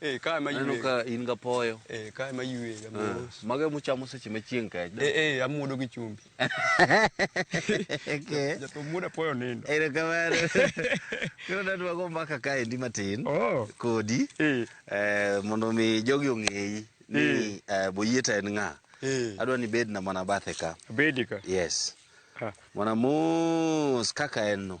Eh, ka ema aneno ywe. ka in gapoyo Eh, ka ema ywe ga Ah, mos. mago emuchamo seche ma chieng' kech Eh, eh, amuodo gi chumbi. Okay. Jathum muodo apoyo nindo. Ero kamano. Koro nadwago mbaka kaendi matin Oh. kodi Eh. eh, mondo mi jogi ong'eyi ni eh, Boyieta en ng'a. Eh. Adwa ni bedna mana bathe ka. Abedi ka. Yes. Ah. Mana mos kaka en no.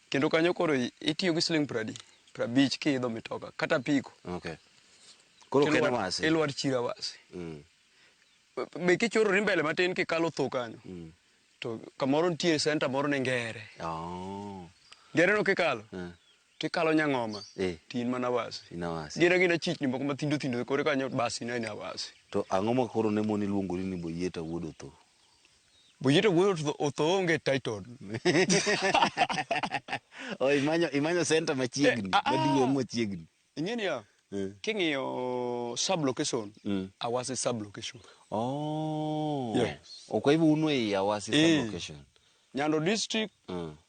Kendo kanyo koro itiyo gi siling' pradi, prabich kiidho mitoka kata apiko. Okay. Koro ok en Ilwar- wasi. Ilwar chira wasi. Mm. Be kichorori mbele matin kikalo tho kanyo, Mm. to kamoro nitie senta moro ni ngere. Oh. Ngereno kikalo, Eh. tikalo nyang'oma, Eh. tin mana wasi. Ina wasi. Gina gina chichni moko mathindo thindo kore kanyo basi ina ina wasi. To ang'o ma koro ne moni luongori ni Boyieta wuod Otho? Bujito wuoyo to otho onge title. Oh, imanyo imanyo center machiegni, Eh, ah, ah. maduong' machiegni. Ing'e ni ya, Eh. king'iyo sub location, Mm. Awasi sub location. Oh. Yes. Okay, hivyo uno ya wasi Eh. sub location. Nyando district, Mm.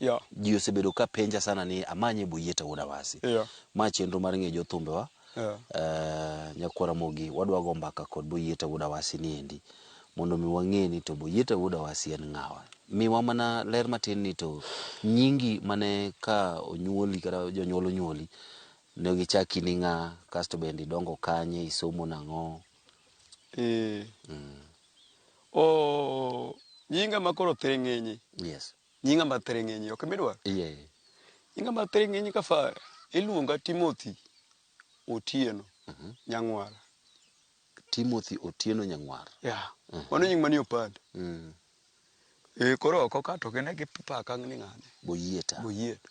Yeah. Ji osebedo ka penja sana ni amanye e Boyeta wuod Awasi. Yeah. Ma chenro mar ng'e jothumbewa. Yeah. Uh, Nyakwara Mogi, wadwa go mbaka kod Boyeta wuod Awasi ni endi. Mondo mi wang'e ni to Boyeta wuod Awasi en ng'awa. Miwa mana ler matin ni to nyingi mane ka onyuoli kata jonyuol onyuoli ne gichaki ni ng'a kasto bende idongo kanye isomo nang'o. Eh. Mm. Oh, nyinga makoro theng'enye. Yes. Nyinga mar thiring'inyi ok midwaro? Yeah. Nyinga mar thiring'inyi ka far iluonga Timothy Otieno mm -hmm. Nyang'wara. Timothy Otieno Nyang'wara. Yeah. Mm -hmm. Mano nying manie opande. Mm. Eh, koro oko ka to gine gi paka ni ng'ane. Boyieta. Boyieta.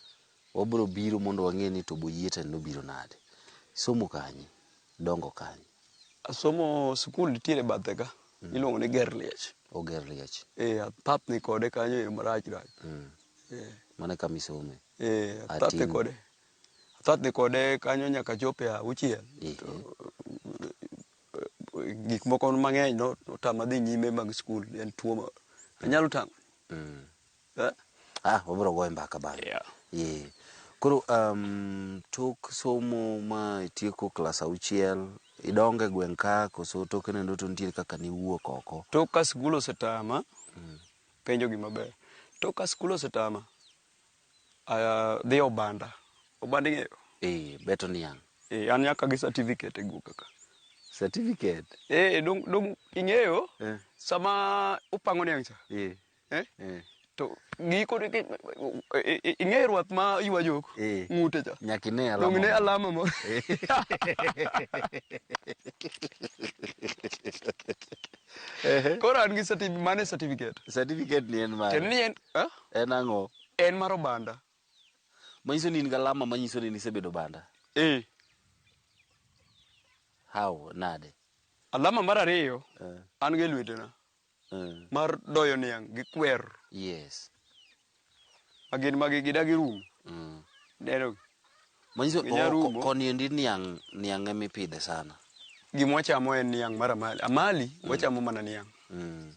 Wabiro biro mondo wang'e ni to Boyieta ni nobiro nade. Isomo kanye? Idongo kanye? Asomo sikul nitiere bathe ka. Mm. Iluongo ni Ger Liech. Oger Liech. Eh, athap ni kode kanyo e marach rach. Mm. Eh. Mane kama isome? Eh, athap ni kode. Athap ni kode kanyo nyaka chope a uchiel. Eh. To, eh, gik moko mang'eny no, otama dhi nyime mag sikul. En tuo ma. Anyalo tang'o. Mm. Eh? Ah, wabiro goye mbaka bang'e. Yeah. Yeah. Koro um, tok somo ma itieko klas auchiel, idonge gweng' ka koso toke nendo to nitiere kaka niwuok oko. Tok ka skul osetama, penjo gima ber. Tok ka skul osetama, ah, dhi Obanda. Obanda ing'eyo? Eh, beto niang'. Eh, an nyaka gi certificate e guoka ka. Certificate. Eh, dong, dong ing'eyo? Eh. Sama upango niang' cha, Eh. Eh? Eh, To giko ni- ki- i- i- ing'e ruath ma ywa jok Eh. ng'ute cha. nyaka ine alama Dong ne moro. alama mo. Ehe. Koro an gi certificate, mane certificate. certificate ni en mare Tiende ni en eh? en ang'o en mar obanda. manyiso ni in gi alama manyiso ni nisebedo banda Eh. how nade Alama mar ariyo Eh, an gi e lwetena. mar doyo niang' gi kwer. Yes. Ma gin magi gidagi rum. Mm. Neno. Manyiso ko, koni endi niang' niang' ema ipidhe sana. Gima wachamo en niang' mar amali. Amali mm. wachamo mana niang'. Mm.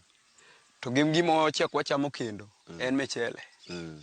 To gim gima wachiek wachamo kendo mm. en michele. Mm.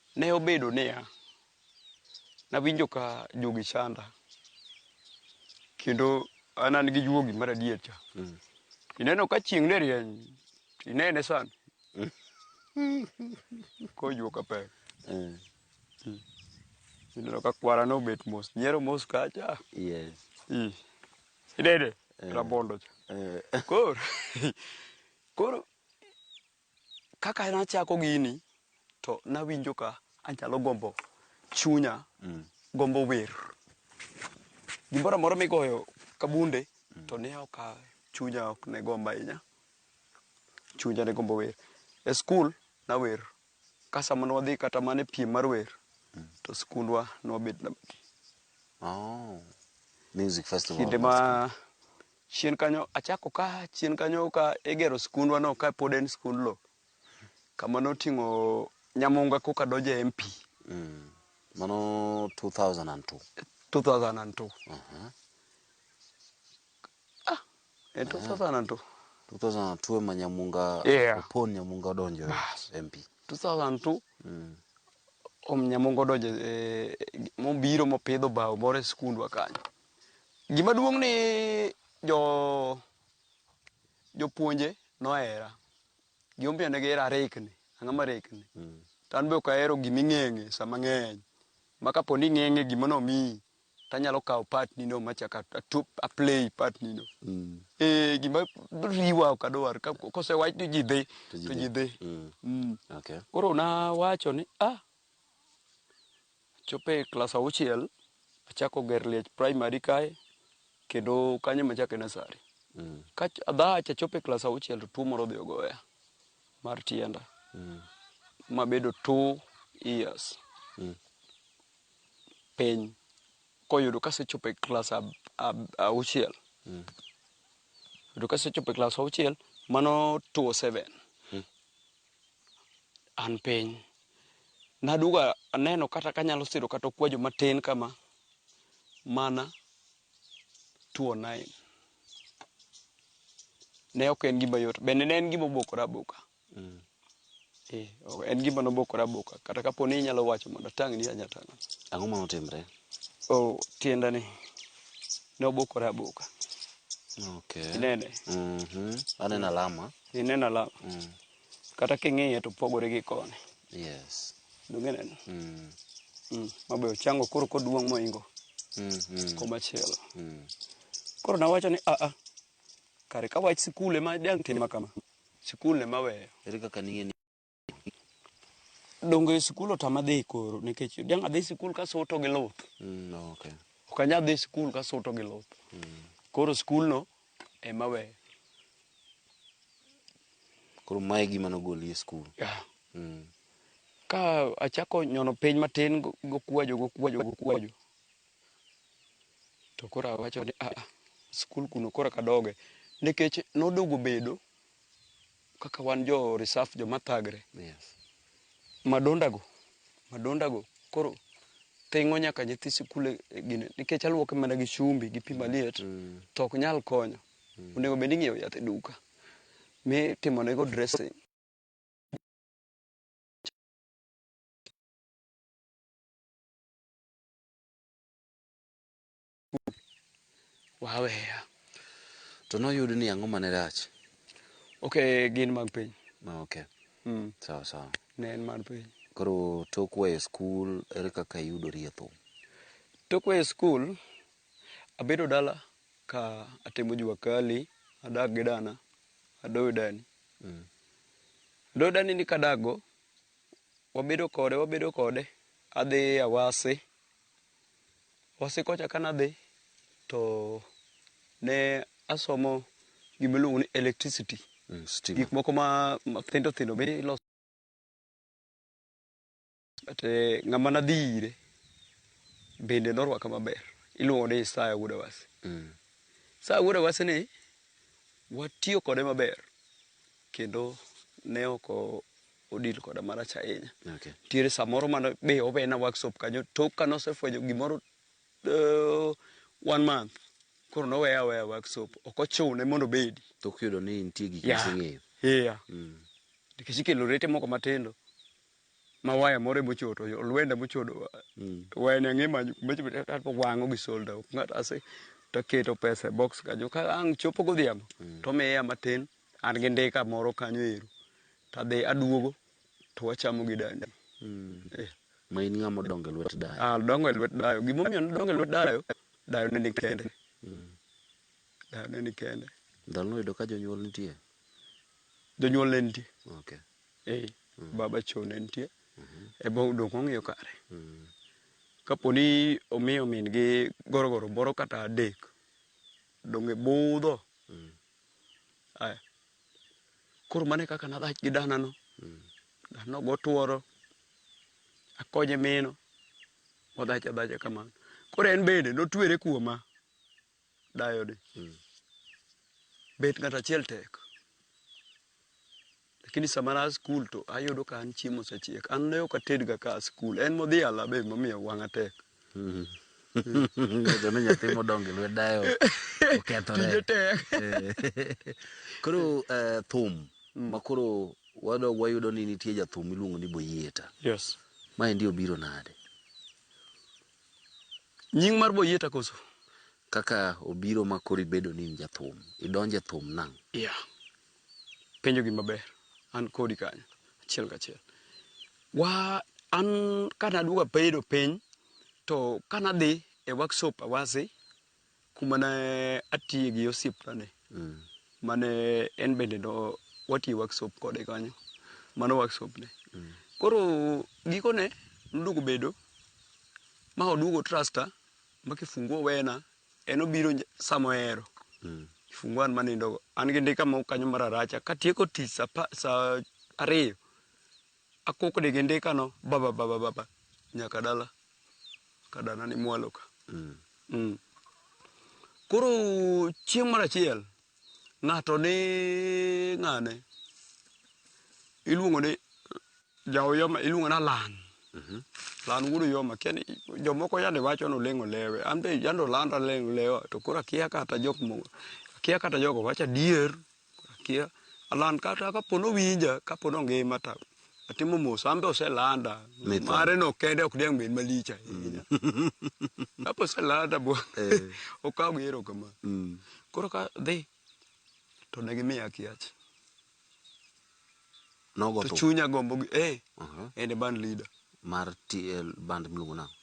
Ne obedo niya, nawinjo ka juogi chanda, kendo an an gi juogi mar adier cha. Mm. Ineno ka chieng' ne rieny, to inene sani. Kojuok ka pek. Mm. Mm. Ineno ka kwara ne obet mos, nyiero mos kacha. Yes. Mm. Inene, Eh. rabondo cha. Eh, Koro, koro Kaka nachako gini to nawinjo ka anyalo gombo chunya gombo wer. Gimoro amora migoyo ka bunde to ne ok a chunya ok ne gombo ahinya. Chunya ne gombo wer. E skul nawer ka sama ne wadhi kata mana e piem mar wer to skundwa ne wabet namba adek. Oh. Music festival. Kinde ma Chien kanyo achako ka chien kanyo ka igero skundwa no ka pod en skund lo kama noting'o Nyamunga koka donjo e MP. Mm. Mano 2002. 2002. Uh -huh. Ah, e 2002. 2002 ema Nyamunga yeah. Opon Nyamunga odonjo e MP. 2002. Mm. Om Nyamunga odonjo e mobiro mopidho bao moro e skundwa kanyo. Gima duong' ni jo jopuonje nohera. Gima omiyo ne gihera arekni. Ang'o ma rekni? Mm. To an be ok ahero gima ing'eng'e sama ng'eny. Ma kapo ni ing'eng'e gima nomiyi, to anyalo kawo part nino ma chaka atup aplay part nino. Mm. Eh, gima riwa ok adwar. Ka- Kosewach ni ji dhi, To ji to dhi. ji dhi. Mm. Mm. Okay. Koro nawacho ni, ah, Achopo e klas auchiel, achako ger liech primary kae kendo kanyo ema achako e nasari. Ka ach- adhach achopo e klas auchiel to tuo moro odhi ogoya mar tienda mabedo two years piny koyudo kasechopo e klas ab- ab- auchiel yudo kasechopo e klas auchiel mano two seven an piny. Naduogo aneno kata kanyalo siro kata okwajo matin kama mana two nine. Ne ok en gima yot, bende ne en gima obokora aboka. Mm. Eh, en gima nobokora aboka. Kata kapo ni inyalo wacho mondo atang'ni anya tang'o. Ang'o ma notimre? Oh, tienda ni. Ne obokora aboka. Okay. Inene? Mhm. Mm Aneno alama. Ineno alama? Mm. Kata king'iye to pogore gi koni. Yes. Donge neno? Mm. Mm. Mabe ochango koro koduong' moingo. Mm. Mm. Komachielo. Mm. Koro nawacho ni aa. Kare ka wach sikul ema dang' tima kama. Sikul ema weyo. Ere kaka ning'e ni dongo e sikul otama dhi koro nikech dang' adhi sikul kasuto gi luth Mm, okay. ok anyal dhi sikul kasuto gi luth Mm. koro sikulno ema weyo Koro mae gima nogoli e skul. Yeah. Mm. ka achako nyono piny matin go- gokwajo gokwajo gokwajo to koro awacho ni aa sikul kuno koro kadoge nikech noduogo bedo kaka wan jo reserve joma thagre yes. madondago madondago koro thingo nyaka nyithi sikul e, e gine nikech aluoke mana gi chumbi gi pi mm, maliet mm. to ok nyal konyo mm. onego bed ing'iewo yath e duka mi timonego dressing waweya to noyud ni ang'o mane rach ok gin mag piny Ah, ok mm. sawa sawa ne en mar piny koro tok weyo skul ere kaka iyudori e thum tok weyo skul abedo dala ka atimo jua kali adak gi dana adoyo dani mm. adoyo dani ni kadago wabedo kode wabedo kode adhi awase Wasikocha ka nadhi to ne asomo gima iluongo ni electricity. Mm, stima. Gik moko ma thindo thindo be iloso. But eh, ng'ama nadhi ire bende norwaka maber. Iluongo ni Isaya Wuod Awasi. Mm. Isaya Wuod Awasi ni watiyo kode maber kendo ne ok o- odil koda marach ahinya. Okay. Nitiere samoro mane be owe na workshop kanyo tok kane osefwenyo gimoro uh, one month koro noweya aweya workshop ok ochune mondo obedi. Tok yudo ni nitie gik yeah. miseng'eyo. Yeah. Mm. Nikech ikelo rete moko matindo ma waya moro ema ochodo olwenda mochodo mm. wayani ang'e manyo wang'o gi solda ng'ato ase taketo pesa e box kanyo ka ang' chopo godhiambo mm. tomiya matin an gi ndika moro kanyo ero to adhi aduogo to wachamo gi dani mm. eh. ma in ng'ama odongo e lwet dayo ah, dongo e lwet dayo gimomiyo nodongo e lwet dayo dayo ne ni kende mm. dayo ne ni kende ndalo noyudo ka jonyuol nitie jonyuol ne nitie okay. eh, mm. baba cho ne nitie mm -hmm. e bo dongo ong'iyo kare mm. kapo ni omiyo min gi gorogoro moro kata adek donge budho mm. Aya. Koro mane kaka nadhach gi dana no. Mm. Dana no gotuoro. Akonye mino. Odhach adhacha kamano. Koro en bende notwere kuoma. Dayo ni. Mm. Bet ng'at achiel tek. Lakini sama na skul to ayudo ka an chiemo osechiek. An ne ok atedga ka a skul. En modhi ala be momiyo wang'a tek. Ng'eto ni nyathi modongo e lwet dayo okethore. Tije tek. Eh. Koro eh, thum ma koro wadog wayudo ni nitie jathum miluongo ni Boyieta. Yes. Ma endi obiro nade? Nying mar Boyieta koso? Kaka obiro ma koro ibedo ni in jathum, idonjo e thum nang'. Yeah. penjo gi maber an kodi kanyo achiel kachiel wa an kana aduoga bedo piny to kana dhi e workshop awasi kuma ne atiye gi osiepna ni mm. mane en bende no watiye workshop kode kanyo mano workshop ne mm. koro gikone noduogo bedo ma oduogo trusta ma kifungu owena En obiro sama ohero. Mm. Fungu an manindogo. An gi ndika moko kanyo mar aracha. Katieko tich sa, sa ariyo, akokode gi ndikano baba baba baba nyaka dala kadana ni mwalo ka. Mm. Mm. Koro chieng' mar achiel ng'ato ni ng'ane iluongo ni Jaoyoma iluongo na Lan. Mhm. Lan wuod Oyoma kia ni jomoko yande wacho ni oleng' olewe. An be yande olanda oleng' olewa to koro akia kata jok mo akia kata jogo wacho adier. Koro akia. Alan kata kapo ni owinja, kapo ni ongima to atimo mos. An be oselanda. Mitho. Mare no kende ok diang' bed malich ahinya. Kapo oselanda bo Eh. okaw gi erokamano. Mm. Koro kadhi to ne gimiya akia cha. Nogo to thum. chunya gombo gi eh Aha. and a band leader Mar TL band miluongo nang'.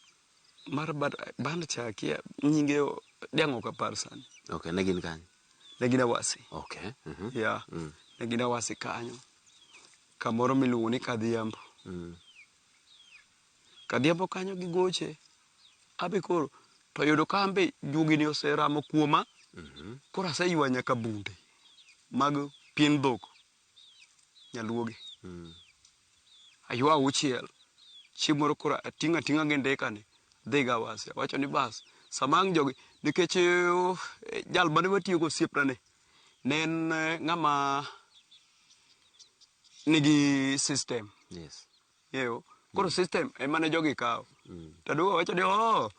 mar band, band cha akia nyinge o- diang' ok apar sani Okay, ne gin kanye? ne gin awasi Okay. mhm. yeah. Mm. ne gin awasi kanyo kamoro miluongo ni kadhiambo Mm. Kadhiambo kanyo gigoche, abe koro to oyudo ka anbe juogi ni oseramo kuoma. Koro aseywa nyaka bunde mag pien dhok, nyaluogi. Aywa auchiel, chieng' moro koro ating'a ting'a gi ndika ni adhi go Awasi. Awacho ni bas, sama ang' jogi nikech oh, jal mane watiyo go osiepna ni ne en ng'ama nigi system. Yes. Ng'eyo. Koro system ema ne jogi kawo. To Aduwa wacho ni oh,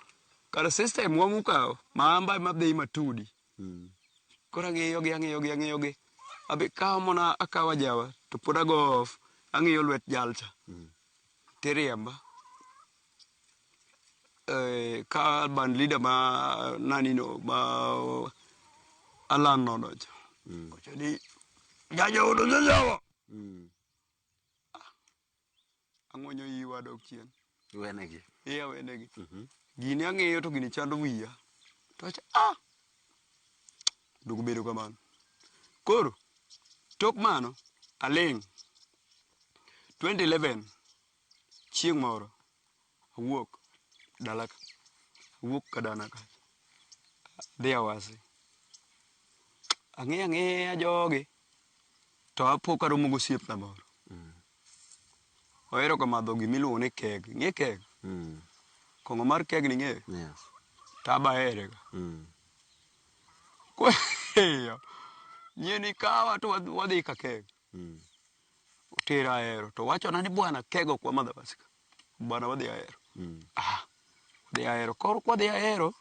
kar system wa mukawo, maamba ema dhi matudi. Koro ang'iyogi ang'iyogi ang'iyogi. Abi kawo mana akawa jawa to pod ago off. Ang'iyo lwet jalcha. Tiriemba. Eh, ka band leader ma nani no ma Alan no nocho. Wacho ni jaja udo jajawa. Ang'wenyo iyi wadok chien. Iwenegi. Iya wenegi. Gini ang'iyo to gini chando wiya. To acha ah. Dog bedo kamano. Koro tok mano aling' 2011 chieng' moro awuok dala ka, awuok kadana ka, adhi Awasi. Ang'iyo ang'iya jogi, to apo karomo gosiepna moro. Ohero ga madho gima iluongo ni keg. Ing'e keg? Mm. Kong'o mar keg ni ing'eyo? Yes. To aba here ga. Mm. Kweyo. Nyieni kawa to wadhi- wadhi ka keg. Mm. Otera ahero. To wachona ni bwana keg ok wamadh Awasi ka. bwana wadhi ahero ah wadhi ahero koro kwadhi ahero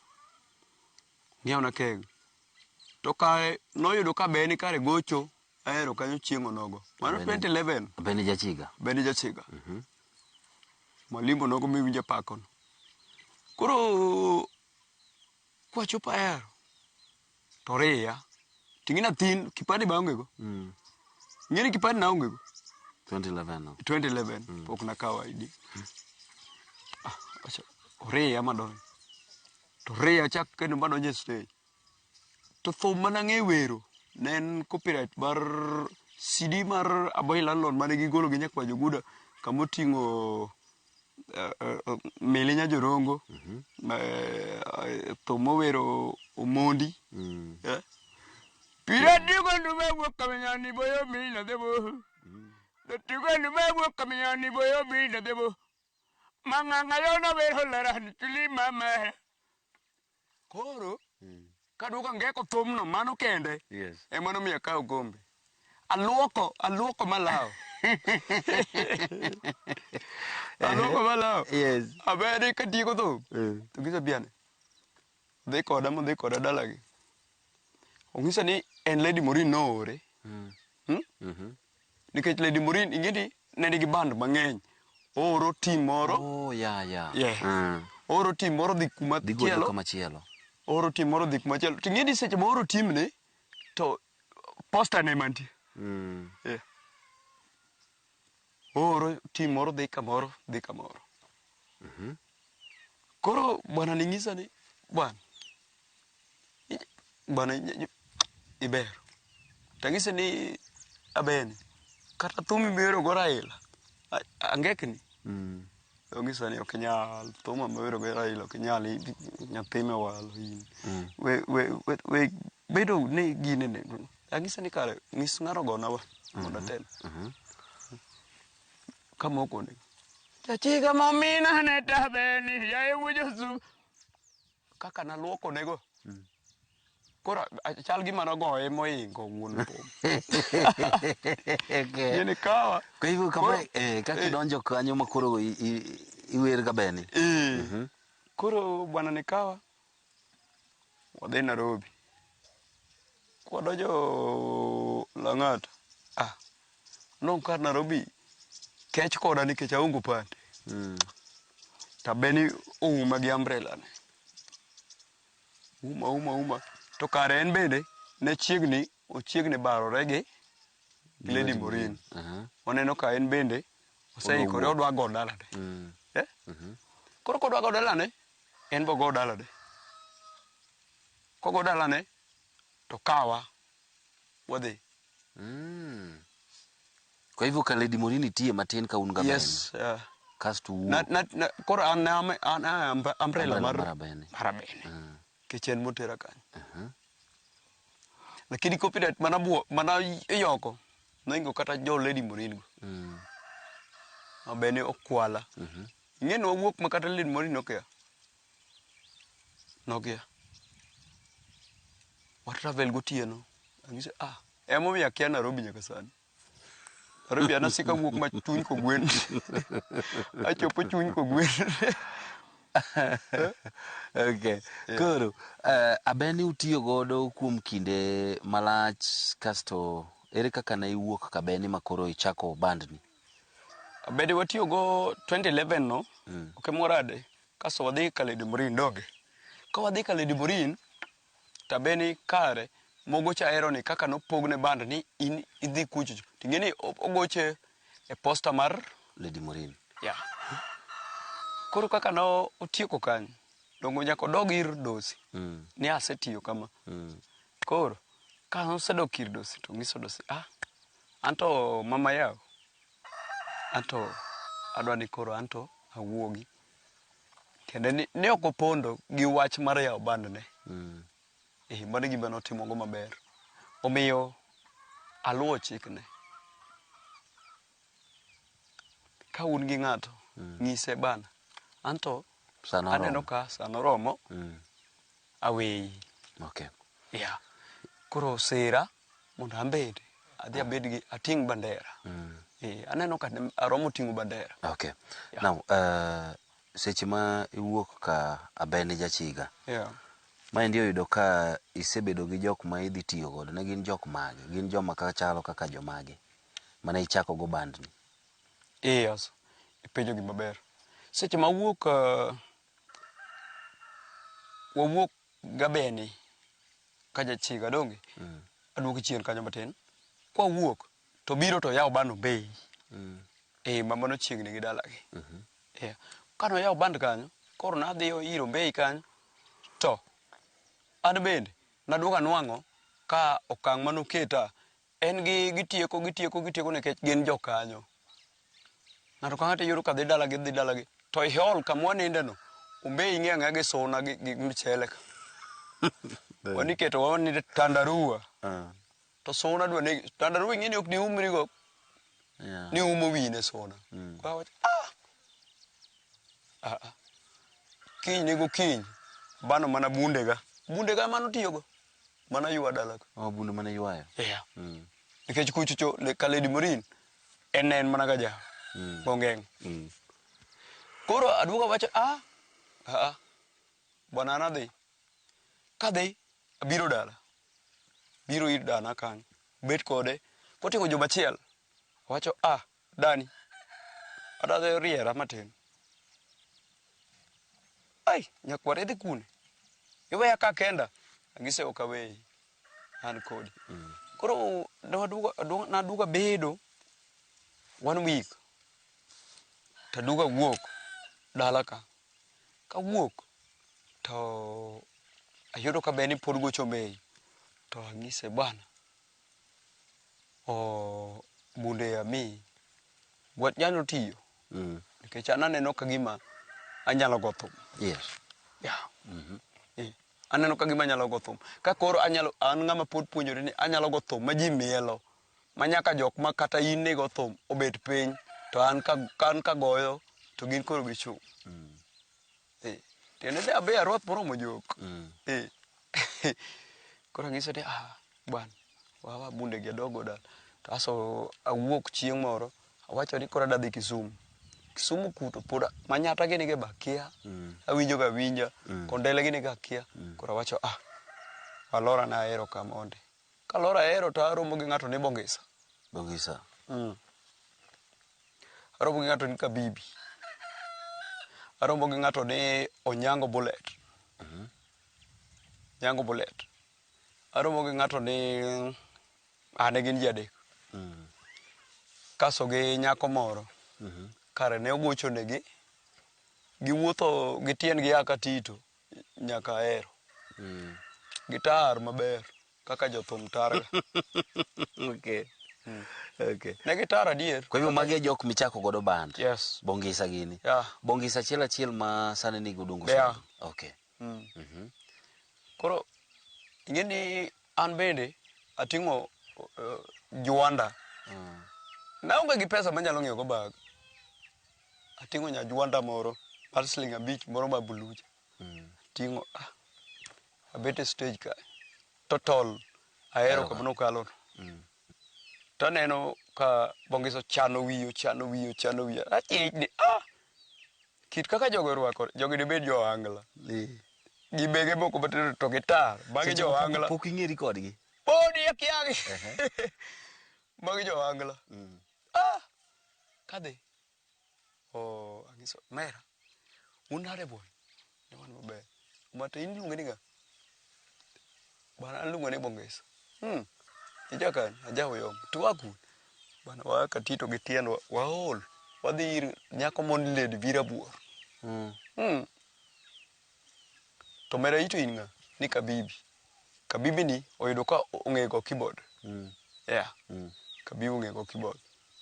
ng'iewna keg to kae noyudo ka beni kare gocho ahero kanyo chieng' onogo mano Beni. 2011 Beni jachiga. bende jachiga malimbo nogo miwinjo apakono koro kwachopo ahero to oriya to ing'e nathin kipande be aongego Mm. ing'e ni kipande naongego 2011 no. 2011 pok nakawo ID Ah, acha- oriya madonjo to oriya chak kendo madonjo e stage to thum mana ng'e wero ne en copyright mar CD mar Aboy Landlord mane gigolo gi nyakwa Joguda kamoting'o eh, eh, mili nya jorongo mhm. eh, eh, thum mowero omondi mm. eh? pira digo ndume wuok kaminyani boyo mili nadhebo mm. dotigo ndume wuok kaminyani boyo mili nadhebo mang'ang'a yo nower holarani chuli mama Koro kaduogo angeko thumno mano kende Yes. ema nomiyo akawo gombe. Aluoko, aluoko malawo. aluoko malawo. Yes. Abedi katieko thum. Eh. To ng'isa biane. Dhi koda modhi koda dalagi. Ong'isa ni en Lady Morin noore. Hmm? Mhm. Nikech Lady Morin ingeni ne nigi band mang'eny. Ooro team moro. Oh yeah yeah. Yes. Mm. Ooro team moro dhi kuma Dhi godo chielo. kama chielo. Ooro team moro dhi kuma chielo. To ingeni seche ma ooro team ni to poster ne mantie. Mm. Yeah. Ooro team moro dhi kamoro, dhi kamoro. Koro bwana ni nyisa ni bwana bwana iber. Tang'ise ni abeni kata thum mibiro go Raila angekni. Mm. Ong'isa ni ok nyal thum mibiro go Raila ok nyal nyathi mewalo in. Mm. We we we bedo ni gine ne anyise ni kare ng'is ng'ano gona wa mondo atel kamoko ni jachiga momina ne tabeni yaye wujo su kaka naluoko nego koro a- chal gima nogoye moingo wuon pom gini kawa Kwa hivyo kama Koro- eh, kaka eh. idonjo kanyo ma koro i- i- iwer ka beni. Eh. koro bwana nikawa wadhi Narobi. Kwadonjo Lang'ata, ah, noneno ka Narobi kech koda nikech aonge opande. Mm. Tabeni ouma gi umbrella ne. Uma, uma, uma. To kare en bende ne chiegni Ochiegni barore gi gi Lady Morin. Aha. Waneno ka en bende oseikore Odwa odwa go dalane. Mm. Eh? Mhm. Koro kodwa go dalane, en bo go dalane. Kogo dalane to kawa wadhi. Mm. Kwa hivyo ka Lady Morin itie matin ka un gaben. Yes. Uh, Kasto u. na, na, na, koro an ne am- an an- umbrella Umbrella mar mar Abene. mar Abene. Mm. Kech en motera kanyo. Aha. lakini copyright mana buo mana iyoko noingo kata jo lady morin go Mm. mabene okwala Mhm. ing'e ni wawuok ma kata lady morin nokia nokia watravel gotieno angise ah emomiyo akia nairobi nyaka sani Rubi anasika wuok ma chuny kogwen. Achopo chuny kogwen. okay. Yeah. Koro uh, abeni utiyo godo kuom kinde malach kasto ere kaka ne iwuok kabeni ma koro ichako bandni? Abedi watiyo go 2011 no mm. okay, morade kasto wadhi Kaledi Morin doge. Ka wadhi Kaledi Morin to abe ni kare mogo cha aero ni kaka nopogne band ni in idhi kucho cho. Ting'e ni o- ogoche e posta mar Lady Morin. ya. Koro kaka no otieko kanyo, dongo nyaka odog ir dosi. Mm. Ni asetiyo kama. Mm. Koro ka osedok ir dosi to nyiso dosi, ah, anto mama yaw, anto adwa ni koro anto awuogi. Tiende ni ne ok opondo gi wach mar yawo bandne. Mm. Eh, mano e gima notimogo maber. Omiyo aluwo chikne. Ka un gi ng'ato, nyise bana. Anto Sana aneno oromo. ka sana oromo. Mm. aweyi. Okay. Yeah. Koro sera mondo ambed adhi abed gi ating' bandera. Mm. Eh, aneno ka aromo ting'o bandera. Okay. Yeah. Now, uh, seche ma iwuok ka Abeni Jachiga. Yeah. Maendi oyudo ka isebedo gi jok ma idhi tiyo godo. Ne gin jok mage? Gin joma ka chalo kaka jomage? Mane ichako go bandni? Eh, yes. Ipenjo gima ber. Seche ma wuok uh, Wawuok Gabeni ka jachiga donge? Mm. Aduoki chien kanyo matin. Kwa wuok to biro to yawo bano bei. Mm. Eh, mama no chiegni gi dalagi. Mm -hmm. Yeah. Kano yawo band kanyo, koro nadhi iro bei kanyo. To, an bende, naduoga nwang'o ka okang' manoketa En gi gitieko gitieko gitieko nikech gin jokanyo. Ng'ato ka ng'ato iyudo ka dhi dalagi dhi dalagi to i hall kama wanindeno umbe ing'e ang'e gi suna gi, gi mchele ka waniketo waninde tandarua Ah, to suna dwa negi tandarua ing'e ni ok diumrigo yeah. ni umo wine suna Mm. Kwa wacho, "Ah! Ah, ah. kiny nego kiny bano mana bundega bundega emano tiyogo Mano ywa dala ka. Oh, bundu mane ywayo. Yeah. Mm. Nikech kuchocho le- ka Lady Morin en ne en mana ka ja Mm. Bongeng. Mm. Koro aduogo awacho ah ah bwana an adhi. Kadhi abiro dala. Biro ir dana kanyo. Bet kode koting'o joma achiel. Awacho ah Dani, adadhe oriera matin. Ai, nyakwar idhi kune? Iweya ka kenda? Agise ok aweyi. An kodi. Koro ne waduogo- aduogo- naduogo abedo one week taduogo awuok dala ka. Kawuok to ayudo ka be ni pod gocho Mei. To ang'ise bwana, oh, munde ami gwach nyalo tiyo Mm. nikech an aneno ka gima anyalo go thum Yes. yeah. Eh, aneno ka gima anyalo go thum ka koro anyalo an ng'ama pod puonjore ni anyalo go thum ma ji mielo ma nyaka jok ma kata in nigo thum obet piny to an ka, ka an kagoyo to gin koro gichung' Eh, tiende de abe aruath moromo jok Mm. Eh, koro anyiso ni ah bwana wawa bunde gi adogo dala to aso awuok chieng' moro awacho ni koro adadhi kisumu kisumu kuto pod a- manyata gini ge bakia Mm. awinjo ga winja Mm. kondele gini ga kia koro awacho ah alora na ahero ka mondi kalora ahero to aromo gi ng'ato ni bongisa Bongisa. mm. Arombo gi ng'ato ni Kabibi. Arombo gi ng'ato ni Onyango Bullet. Onyango Bullet. Arombo gi ng'ato ni ah, ne gin ji adek. Kaso gi nyako moro. Kare ne ogocho negi. Giwuotho gi tiendgi a Katito nyaka Ahero. Gitar maber. kaka jothum targa. okay. Mm. Okay. Ne gitar adier. Kwa hivyo magi e jok michako godo band. Yes. Bongisa gini. Yeah. Bongisa achiel achiel ma sani ni godungu. Yeah. Okay. Mm. Mm -hmm. Koro ingeni an bende ating'o uh, juanda. Mm. Naonge gi pesa manyalo ng'iewo go bag. Ating'o nya juanda moro mar siling abich moro ma buluja. Mm. Ting'o ah, abet e stage ka totol ahero Eroka. kama nokalo taneno ka bongis ochano wiye ochano wiye ochano wiye achijni ah kit kaka jogo orwakore jogi dibed jo angla Eh. gi bege moko matindo to gitar magi Seche jo moko angla Pok ing'eri kodgi. podi akiagi magi jo angla ah kadhi Oh, anyiso mera. Un nade boy? Ne wan maber. But in iluonge ni ng'a? Bana aluonge ni Bongesa. Hmm. Ija kanye? Aja Oyom. To wa kune? Bana wa Katito gi tiendwa. Waol. Wadhi ir nyako mon lady Virabuor. Mm. Hmm. To mera ito in nga? Ni Kabibi. Kabibi ni oyudo ka ong'e go keyboard. Mm. Yeah. Mm. Kabibi ong'e go keyboard.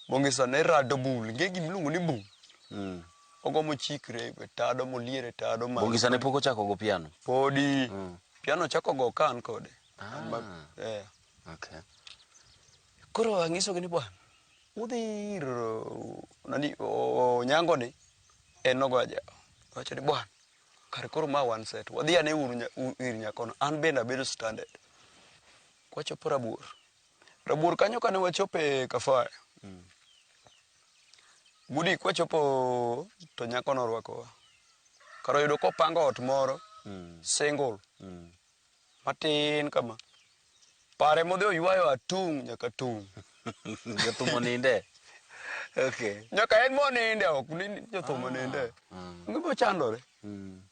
Bongisa ne rado bul. Nge gim lungu ni bul. Mm. Ogo mo chikre e tado mo liere tado ma. Bongisa ne poko chako go piano. Podi. Mm. Piano chako go kan kode. Ah. Amba, yeah. Okay. Koro angiso gini bwana. Udhi nani o, o, nyango ni. En nogoyo jago. Nowacho ni, Bwana, kare koro ma one set. Wadhi ane uru nya- u- ir nyakono. An bende abedo stranded. Kwachopo Rabuor. Rabuor kanyo kane wachope Kafaya. Gudi kwachopo to nyakono orwakowa. Kar oyudo kopango ot moro single matin kama. Pare modhi oywayo atung' nyaka tung'. Jothum oninde. Okay. Nyaka en moninde ok ni jothum ah. oninde. Mm. Ngima chandore. Mm.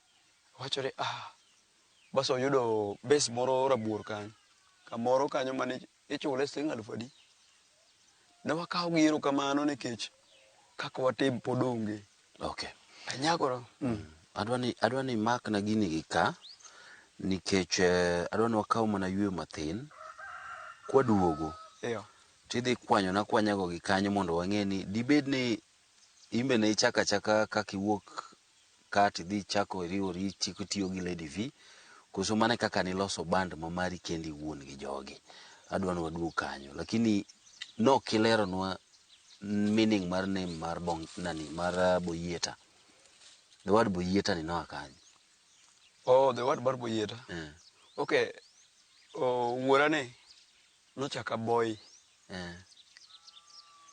Wachore ah. Bas oyudo base moro rabuor kanyo. Kamoro kanyo mane ichule siling' aluf adi. Ne wakawo gi erokamano nikech kaka watim pod onge. Okay. Anyagora. Mm. Adwa ni adwa ni mak na gini gi ka nikech eh, adwa ni wakaw mana yweyo mathin kwaduogo Iyo. tidhi kwanyo na kwanyago gi kanyo mondo wang'e ni dibed ni imbe ne ichaka chaka kaka iwuok ka to idhi ichako iriwori ichiko itiyo gi Lady Vee, koso mano e kaka niloso band ma mari kendi iwuon gi jogi. Adwa ni waduog kanyo. Lakini ne ok ileronwa meaning mar name mar Bong, nani, mar ah, Boyieta. The word Boyieta ni noa kanye? Oh, the word mar Boyieta. Eh. Okay, oh, wuora ne Nochak a boy. Eh.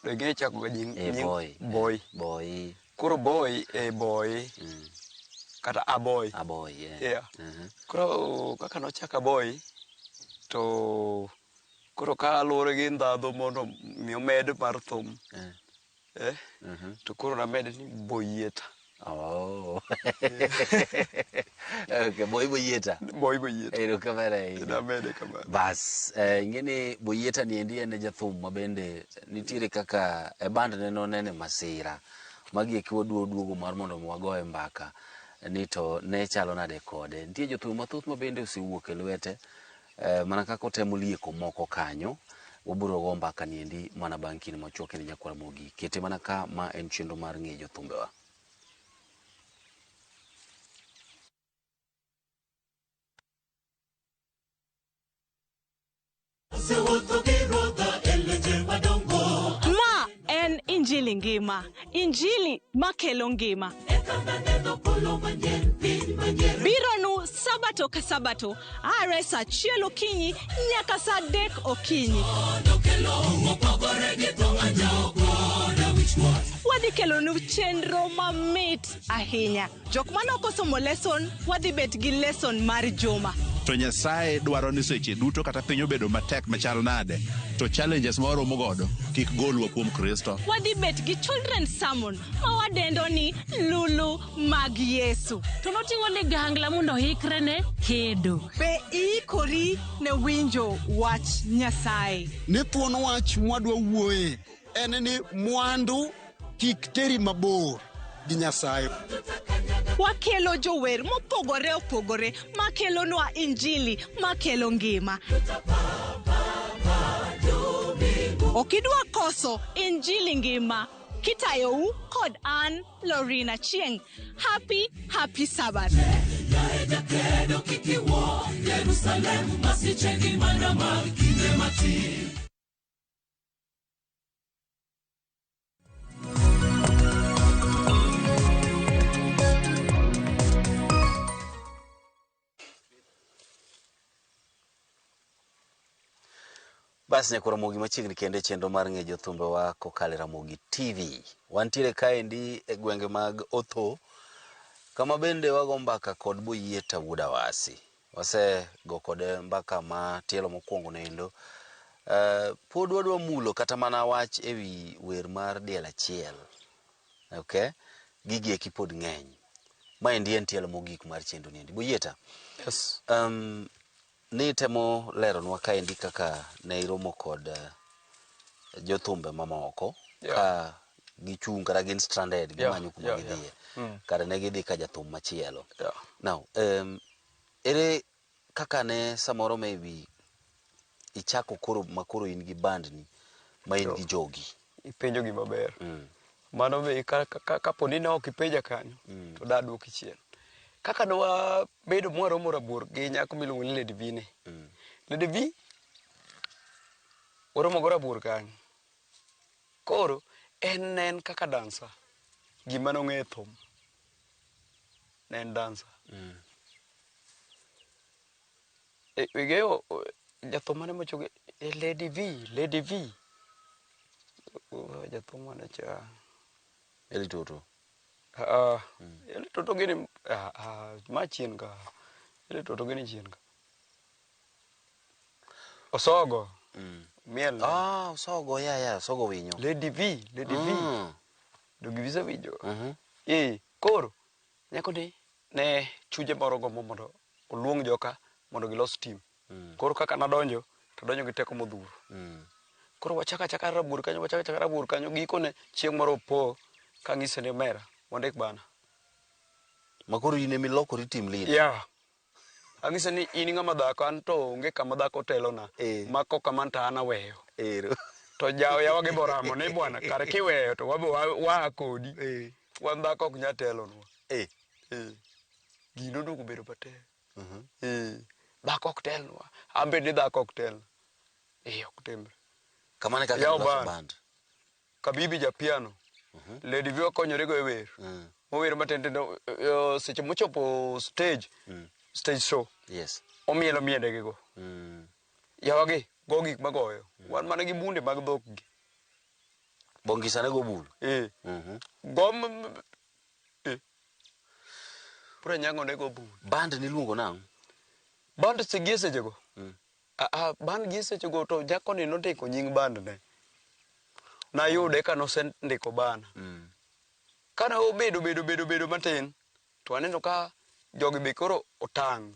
Be ing'eyo chako ga nying Eh, nying- boy. boy. Boy. Koro boy e boy Mm. kata a boy. A boy, yeah. Yeah. Mhm. Koro kaka nochak a boy to koro ka luwore gi ndhadhu mondo mi omed mar thum Eh. Eh? Mhm. To koro namede ni Boyieta. Oh. okay, boy Boyeta. Boy Boyeta. Ero kamera hii. Namede kamera. Bas, eh, ingeni Boyeta ni endi ene jathum mabende nitiere kaka e band ne no nene masira. Magi e kiwa duo duogo mar mondo mwago e mbaka. Ni to ne chalo nade kode. Nitie jothum mathoth mabende osewuok e lwete. Eh, mana kaka otemo lieko moko kanyo wabiro go mbaka niendi mana bang' kinde machuok kendo nyakwar mogi kete mana ka ma en chenro mar ng'e jothumbewa En injili ngima, injili makelo ngima. Bironu sabato ka sabato, are sa achiel okinyi nyaka sa adek okinyi. Wadhi kelonu chenro mamit ahinya. Jok mane ok osomo lesson, wadhi bet gi lesson mar juma. To Nyasaye dwaro ni seche duto kata piny obedo matek machal nade, to challenges ma waromo godo kik golwa kuom Kristo. Wadhi bet gi children's sermon ma wadendo ni Lulu mag Yesu. To noting'o ligangla mondo oikre ne kedo. Be iikori ne winjo wach Nyasaye? Ne thuon wach mwadwa wuoye. en ni mwandu kik teri mabor gi Nyasaye. Wakelo jower mopogore opogore makelonwa injili makelo ngima. Ok idwa koso injili ngima kitayou kod an Lorina Chieng. Happy happy Sabbath. Jakedo kik iwuo Yerusalem masiche gi mana mag kinde matin bas nyako ramogi machiegni kende chenro mar ng'e jothumbewa kokalo e ramogi tv wantiere kaendi e gwenge mag otho kama bende wago mbaka kod boyieta wuod awasi Wasego kode mbaka ma tielo mokwongo noendo. Eh, pod wadwa mulo kata mana wach e wi wer mar diel achiel. Okay? Gigi eki pod ng'eny. Ma endi en tielo mogik mar chenro ni endi. Boyieta. Yes. Um, ni temo leronwa kaendi kaka ne iromo kod uh, jothumbe mamoko Yeah. ka gichung' kata gin stranded Yeah, gimanyo kuma yeah, gidhiye yeah. Mm. kata ne gidhi ka jathum machielo Yeah. now em, ere kaka ne samoro maybe ichako koro makoro in gi bandni ma in gi jogi Ipenjo gima ber. Mm. Mano be ka- ka- ka- kapo ni ne ok ipenja kanyo to da duoki chien. Kaka ne wabedo mwaromo rabuor gi nyako miluongo ni Lady Vine. Lady V Waromogo rabuor kanyo. Koro en ne en kaka dancer. Gima nong'e e thum ne en dancer. Mm. E, Igeo jathum mane mochoge e Lady V, Lady V. Oh, Jathum mane cha. Eli Toto. Ah, ele toto gini ah, ah, ma chien ka. Ele toto gini chien ka. Osogo. Mm. Miel. Ah, osogo ya ya, osogo winyo. Lady V, Lady V. Mm. Dogi visa winyo. Mhm. Eh, koro nyako ni ne chuje moro gombo mondo oluong joka mondo gilos tim. Mm. Koro kaka nadonjo to donjo gi teko modhuro. Mm. Koro wachaka achaka rabur kanyo wachaka achaka rabur kanyo gikone chieng' moro opo ka ng'ise ni mera wandik bana. Ma koro in ema ilokori tim lead. Yeah. Ang'ise ni in ng'ama dhako an to onge kama dhako otelona eh. ma kok kamano to an aweyo ero to jawo yawa gi boramo ni bwana kar kiweyo to wabe waa kodi eh. wan dhako ok nyal telonwa eh. eh. gino oduogo bedo matek mhm. eh. dhako ok telnwa an bende dhako ok telna eh, ok timre kamano e kaka yawo band Kabibi ja piano. Lady Viva konyorego e wer. Mower matin tin to eh, seche mochopo stage, stage show, Yes. omielo miedegigo. Mm. Yawagi go gik magoyo. Wan mana gi bunde mag dhok gi. Bongisa ne go bul. Eh. Mhm. Go m- m- eh. Pura nyango ne go bunde. Band niluongo nang'? Band segie sechego. Aa, band gi esechego to nyakoni nondiko nying band ne. Nayude ka nosendiko bana. Mm. Kane obedo bedo bedo bedo matin to aneno ka jogi be koro otang'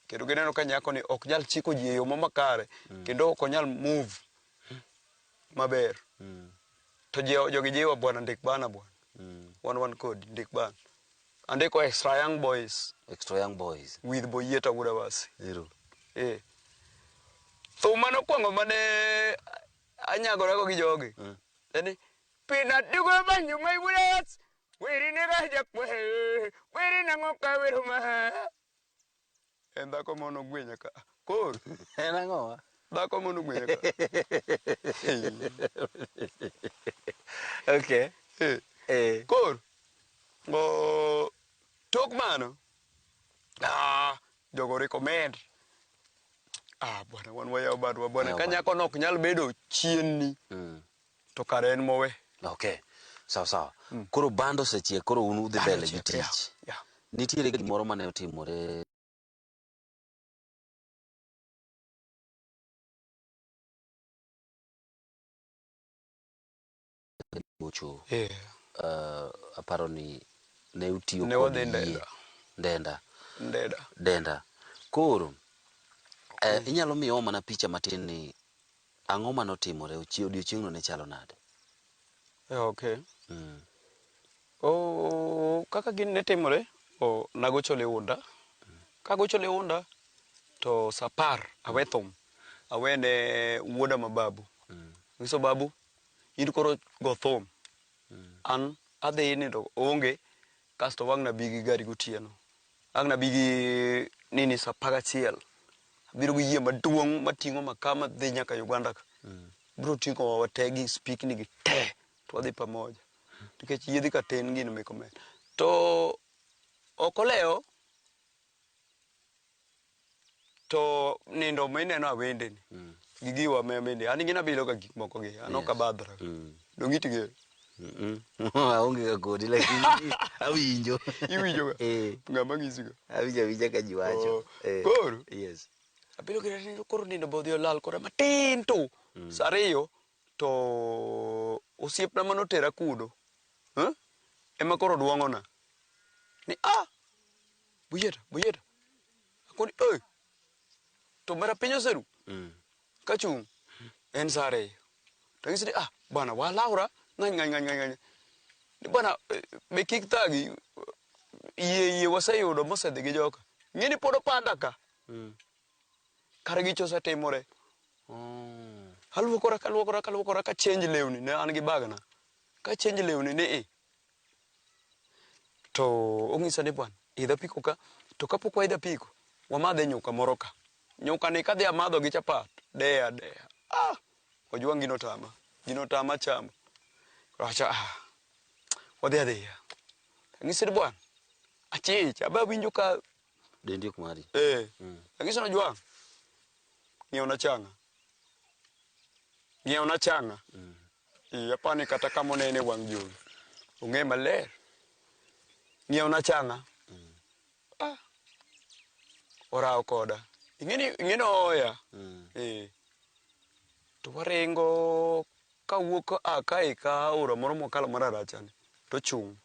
kendo gineno ka nyakoni ok nyal chiko ji e yo makare mm. kendo ok onyal move maber. Mm. To jogi jiwa bwana ndik bana bwana. Mm. Wan wan kodi ndik bana. Andiko extra young boys. Extra young boys. With Boyeta Wudabasi. Ero. Eh. Thum mane okwongo mane anyagorago gi jogi. Mm. Eni. Pina dugo banyu my Wudabasi. Wiri ne ga jakwe. Wiri nango ka wiro ma. En dhako mono gwenya ka. Kor. En ang'o ma? Dhako mono gwenya ka. okay. Eh. Eh. Kor. Ngo tok mano. Ah, jogo recommend. Ah, bwana wan wayaw badwa bwana. Ka nyako nok nyal bedo chienni. Mm. To kare en mowe. Okay. Sawa sawa. Koro bando osechiek koro un udhi Bando mbele gi ochiek, yeah, tich. yeah. Nitiere gimoro mane otimore gocho. Eh. Uh, aparo ni ne utiyo Ne kod wadhi yie. Ndenda. Ndenda. Ndeda. Denda. Koro eh, inyalo miyowa mana picha matin ni Ang'o ma notimore? Odiechieng'no ne chalo nade? Okay. Kaka gini ne timore, nagocho liunda. Kagocho liunda to sa apar awe thum, awe ne wuoda ma babu. Anyiso babu, in koro go thum. An adhi nindo, oonge. Kasto wang' nabi gi gari gotieno. Ang' nabi gi nini saa apar gachiel. Abiro gi yie maduong' mating'o makaa madhi nyaka Uganda ka. Biro ting'owa wate gi spikni gi te to wadhi pamoja. Nikech yiedhi ka tin gin mek omenda. To ok olewo. To nindo mineno awende ni gi giwa me mende an ing'ina bilo ka gik moko gi an ok abadhra. Donge itige? Mm. Aonge ga kodi lakini awinjo. Iwinjo ga? Eh. Ng'ama ng'isi ga? Awinjo awinja ka ji wacho. Oh, Eh. koro? Yes. Abilo gi nindo koro nindo be odhi olal kora matin tu. Sa ariyo to osiepna mane otera kuno eh, ema koro duong'ona ni ah Bujeta, bujeta. Akoni, oi. To mara piny oseru. Mm. Kachung' en saa ariyo. To ng'isi ni ah bana walawra ng'any ng'any ng'any ng'any. Ni bana eh, be kik thagi yie yie waseyudo mosedhi gi joka. Ng'eni pod opanda ka. Mm. Kare gicho osetimore. Oh. Aluokora kaluokora kaluokora ka change lewni ne an gi bagna. Ka change lewni ni i. To ong'isa ni bwana, idh apiko ka, to kapok waidho apiko, wamadh e nyuka moro ka. Nyuka ni kadhi amadho gi chapat, de a de a. Ah! Ojwang' gino otama, gino otama chamo. Awacha, ah, wadhi adhiya. Ang'ise ni bwana, achich, aba awinjo ka Dendi ok mari. Eh. Mm. Ang'iso ni Ojwang', ng'iewna chang'a. Ng'iewna chang'a. Ee, apani kata kama onene e wang' jowi. Ong'e maler. Ng'iewna chang'a. Ah. Orawo koda. Ing'eni ing'eni ohoya. Ee. To waringo kawuok a ka e ka aora moro mokalo mar arachani. Tochung'.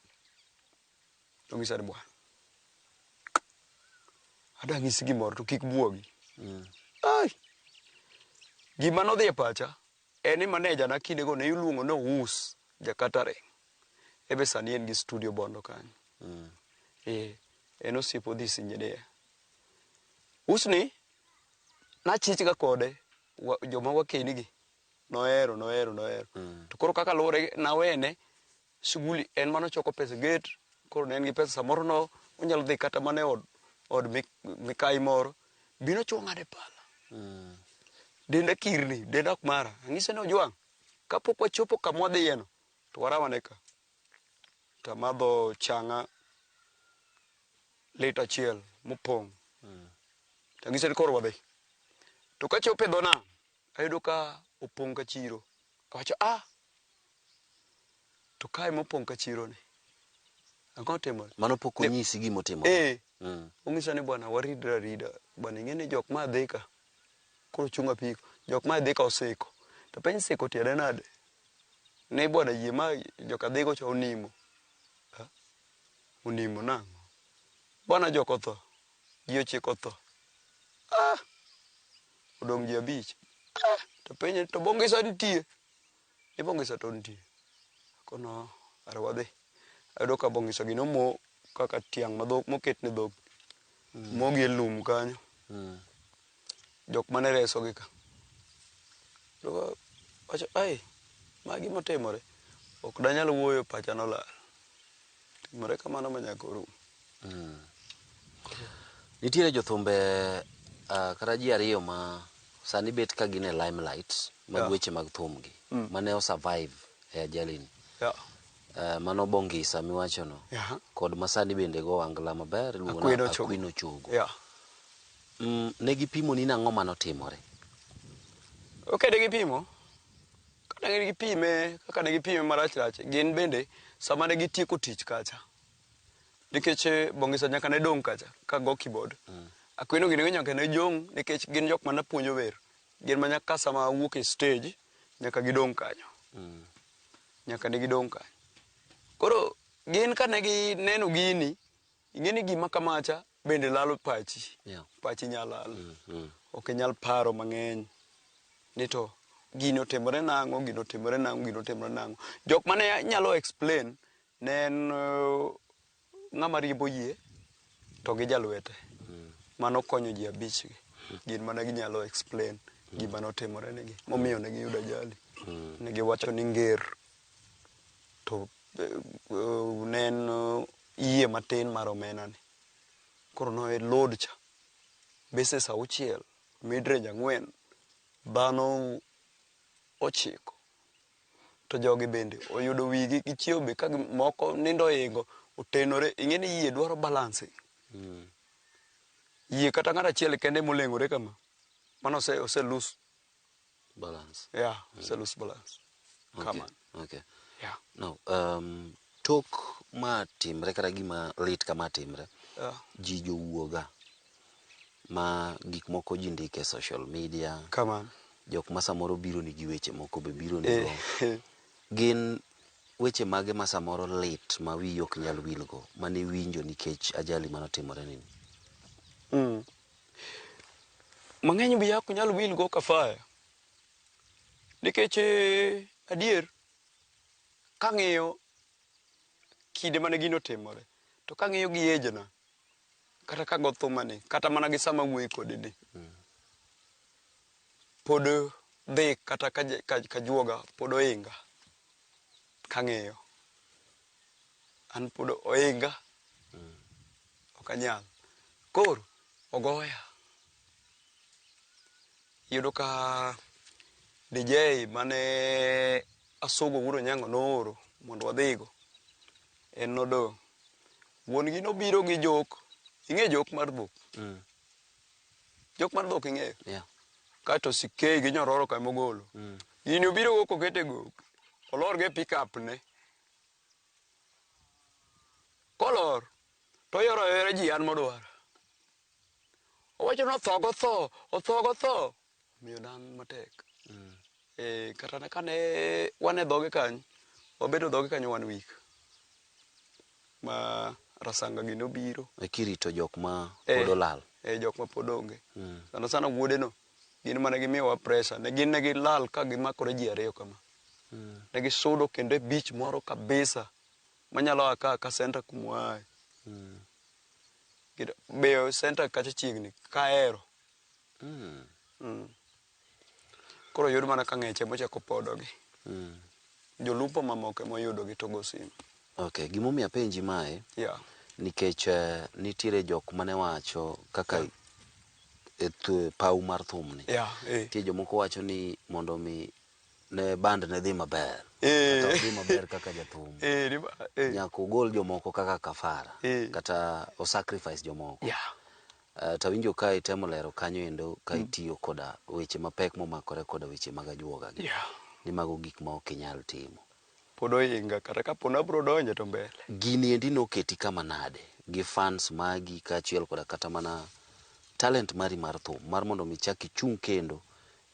Tong'isa ni bwana. Adwa ng'isi gimoro to kik buogi. Ai. Gima nodhi e pacha, En e maneja na kindego ne iluongo ni Owuus ja catering. En be sani en gi studio Bondo kanyo. Ee, en osiep Odhis engineer. Usni nachich ga kode wa, joma wakeni gi nohero nohero nohero. To koro kaka luwore nawene Shughuli en mana choko pesa e gate, koro ne en gi pesa samoro no onyalo dhi kata mana e od od mi mikayi moro, bi nochwo ng'ade pala. Denda kirni, denda ok mara. Ang'ise ni Ojwang', kapok wachopo kama wadhiye no, to waraw ane ka. Tamadho chang'a lita achiel mopong'. Tang'ise ni koro wadhi. To kachopo e dho nam, Ayudo ka opong' ka chiro. Awacho ah! To kae mopong' ka chironi, ang'o otimore? Mano pok onyisi gima otimore. Ee, mm. onyisa ni bwana waridre arida. Bwana ing'e ni jok ma dhi ka koro chung' apiko. Jok ma dhi ka osiko. To penj siko tiende nade? Ni bwana yie ma jok adhigo cha onimo. Ha? Onimo nang'o? Bwana jok otho. Ji ochiko otho. Ah! odong' ji abich. Ah, to penye to bongisa nitie. Ni bongisa to nitie. Kono are wadhi. Ayudo ka bongisa gi nomo kaka tiang' ma dhok moket ne dhok. Mm. Mogi e lum kanyo. Mm. Jok mane reso gi ka. Dogo wacho ai magi motimore ok danyal wuoyo pacha nolal. Timore kamano ma nyaka orum. Mm. Nitiere jothumbe uh, kata ji ariyo ma sani bet ka gin e limelight mag yeah. weche mag thumgi mm. mane osurvive e ajalini yeah. uh, mano Bongisa miwachono yeah. kod masani bende go angla maber iluongona Akwino Chogo yeah. mm, ne gipimo ni nang'o manotimore okay, ne gipimo Kane ne gipime, kaka ne gipime marach rach, gin bende sama ne gitieko tich kacha, nikech eh, Bongisa nyaka ne dong' kacha ka go keyboard. Mm. Akweno gini nyaka ne jong' nikech gin jok ma napuonjo wer. Gin ma nyaka sama wuok e stage nyaka gidong' kanyo. Mm. Nyaka ne gidong' kanyo. Koro gin kane gineno gini Ing'e ni gima kamacha bende lalo pachi. Yeah. Pachi nya lal. Mm, mm. Ok inyal paro mang'eny ni to gino otimore nang'o, gino otimore nang'o, gino otimore nang'o. Jok mane nyalo explain ne en uh, ng'ama riembo yie to gi jalwete. Mm. Mano konyo ji abich gi. Mm. Gin mana ginyalo explain mm. gima notimore negi. Momiyo ne giyudo ajali. Mm. Ne giwacho ni nger. to ne en yie matin mar omena ni. Koro no e load cha. Bases auchiel, midrange ang'wen, dhano ochiko. To jogi bende oyudo wigi gichiewo be ka moko nindo oingo otenore. Ing'e ni yie dwaro balance. Mm. Yie kata ng'at achiel kende moleng'ore kama, mano ose, ose lose balance. Yeah, mm. it's a loose balance. Okay. Come on. Okay. Yeah. Now, um, tok ma timre kata gima lit kama timre yeah. ji jowuoga ma gik moko ji ndike social media Come on. jok ma samoro biro ni gi weche moko be biro ni eh. go gin weche mage ma samoro lit ma wiyi ok nyal wilgo mane iwinjo nikech ajali mane otimore nini mm. mang'eny be ok nyal wil go kafaya nikech eh, adier kang'iyo kinde mane gino timore to kang'iyo gi ejna kata kago thumani kata mana gi sama wuoyi kodi ni pod dhi kata kajuoga pod oinga kang'iyo an pod oinga ok anyal koro ogoya iyudo ka DJ mane Asogo wuod Onyango nooro mondo wadhigo en nodong' wuon gi nobiro gi jok ing'e jok mar dhok mm. jok mar dhok ing'eyo yeah. kaeto sikei gi nyororo ka mogolo mm. gini obiro go kokete go olor go e pickup ne kolor to oyoro ayora ji an modwaro owacho ni otho gotho otho gotho omiyo dan matek mm. e, kata kane wan e dhoge kanyo wabedo dhoge kanyo wan wik ma rasanga gi nobiro e kirito jok ma e, pod olal e jok ma pod onge mm. sana sana wuodeno Gin mane gimiyowa pressure. Ne gin ne gilal ka gimakore ji ariyo kama. Ne gisudo kendo e beach moro kabisa manyalo a ka ka center kuma waaye. Kendo Be center kacha chiegni kaero. Mm. Koro yud mana ka ng'eche mochako podogi. Jolupo mamoko ema oyudogi to go simu. Okay, gimomiyo apenji mae Yeah. nikech eh, nitiere jok mane wacho kaka e paw mar thum ni nitie jomoko wacho ni mondo mi ne band ne dhi maber kata odhi maber kaka jathum nyaka ogol jomoko kaka kafara kata o sacrifice jomoko eh, to awinjo ka itemo lero kanyo endo ka mm. itiyo koda weche mapek momakore koda weche mag ajuoga gi ni mago gik ma ok inyal timo Pod oinga kata kapo nabro donje to mbele. Gini endi noketi kama nade gi fans magi kaachiel koda kata mana talent mari mar thum mar mondo mi ichak ichung' kendo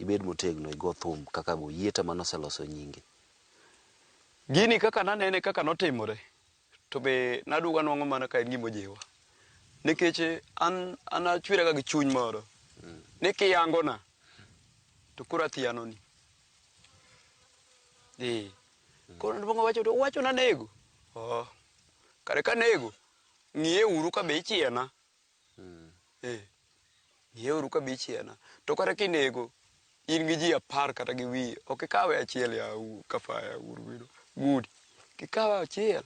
ibed motegno igo thum kaka go Yieta mane oseloso nyinge? Gini kaka nanene kaka notimore To be naduogo anwang'o mana ka en gima ojiwa. Nikech an an achwera ga gi chuny moro ni kiyangona to koro athianoni. Ee. Koro nodwongo owacho to uwacho nanego. Oh. Kare kanego, ng'iye uru ka be ichiena. Eh, ng'ieuru kabich ena. To kata kinego in gi ji apar kata gi wiye, ok ikawe achiel ya u- kafaya uru wino. Gudi. Kikawe achiel.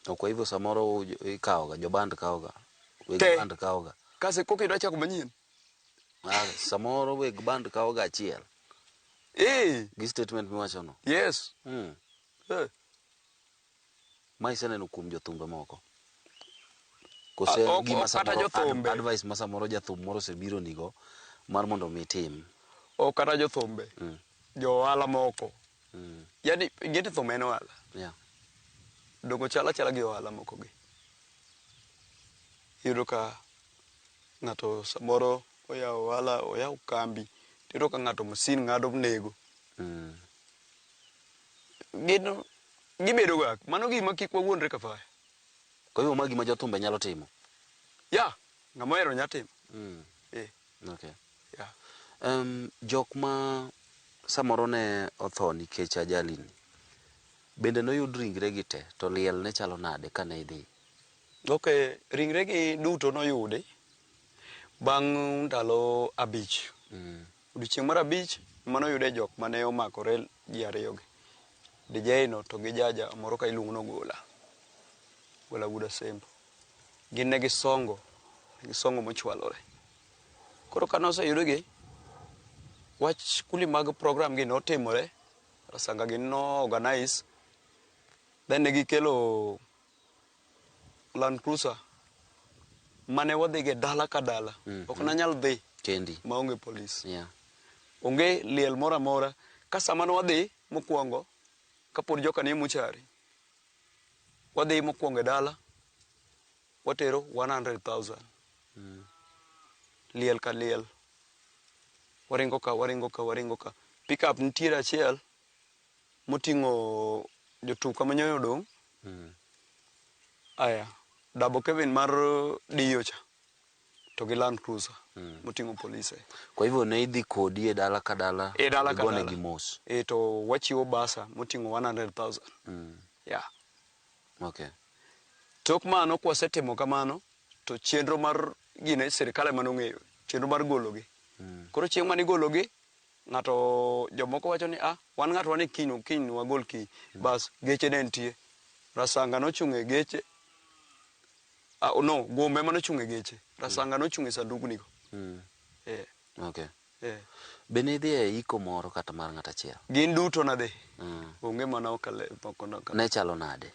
To kwa hivyo samoro u- jo- ikawoga, joband kawoga, weg Te. band kawoga. Kase koka idwa chako manyien. Ah, Samoro weg band kawoga achiel Eh, gi statement miwachono. yes. Mm. Eh. Ma iseneno kuom jothumbe moko? Koso en ok gima ok kata samoro ad- jothumbe advice ma samoro jathum moro osebironigo mar mondo mi itim? ok kata jothumbe Mm. jo ohala moko Mm. yani ingeti thum en ohala Yeah. dongo chala chala gi ohala moko gi iyudo ka ng'ato samoro oyawo ohala oyawo kambi to iyudo ka ng'ato masin ng'ado nego Mm. gin Gibedo ga. Mano gima kik wawuondre kafaya. Kwa hivyo ma gima jo thumbe nyalo timo. Yeah, ng'ama ohero nya timo. Mm. Eh. Okay. Yeah. Um, jok ma samoro ne otho nikech ajali ni bende noyud ringre gi te to liel ne chalo nade kane idhi? Okay, ringre gi duto noyudi bang' ndalo abich. Mm. Odiechieng' mar abich ema noyude jok mane omakore ji ariyogi, Dijei no to gi jaja moro ka iluongo ni Ogola, Ogola wuod Asembo. Gin ne gisongo, ne gisongo mochwalore. Koro kane oseyudgi, wach kundi mag program gi notimore, Rasanga gi no organize, then ne gikelo Land Cruiser mane wadhige dala ka dala mm. ok nanyal dhi kendi maonge polis yeah. onge liel moro amora ka sama nwadhi mokwongo kapod joka ni muchari wadhi mokwongo e dala watero 100,000 mm. liel ka liel waringo ka waringo ka waringo ka pickup nitiere achiel moting'o jotuk kama nyoyo odong' aya dabo Kevin mar Dio cha to gi Land Cruiser moting'o polise. Kwa hivyo ne idhi kodi e dala ka dala E dala ka igonegi dala. mos. E to wachiwo basa moting'o 100,000. Yeah. Okay. Tok mano kwasetimo kamano to chenro mar gine sirkal ema nong'eyo chenro mar gologi. Koro chieng' mane igologi Ng'ato jomoko wacho ni a wan ng'ato wan e kiny no kiny no wagol kiny bas geche ne nitie rasanga nochung' e geche a no gombe ema nochung' e geche rasanga nochung' e sandugni go eh Okay. eh Be nidhi e iko moro kata mar ng'at achiel? gin duto nadhi Mm. onge mana okale moko na Ne chalo nade?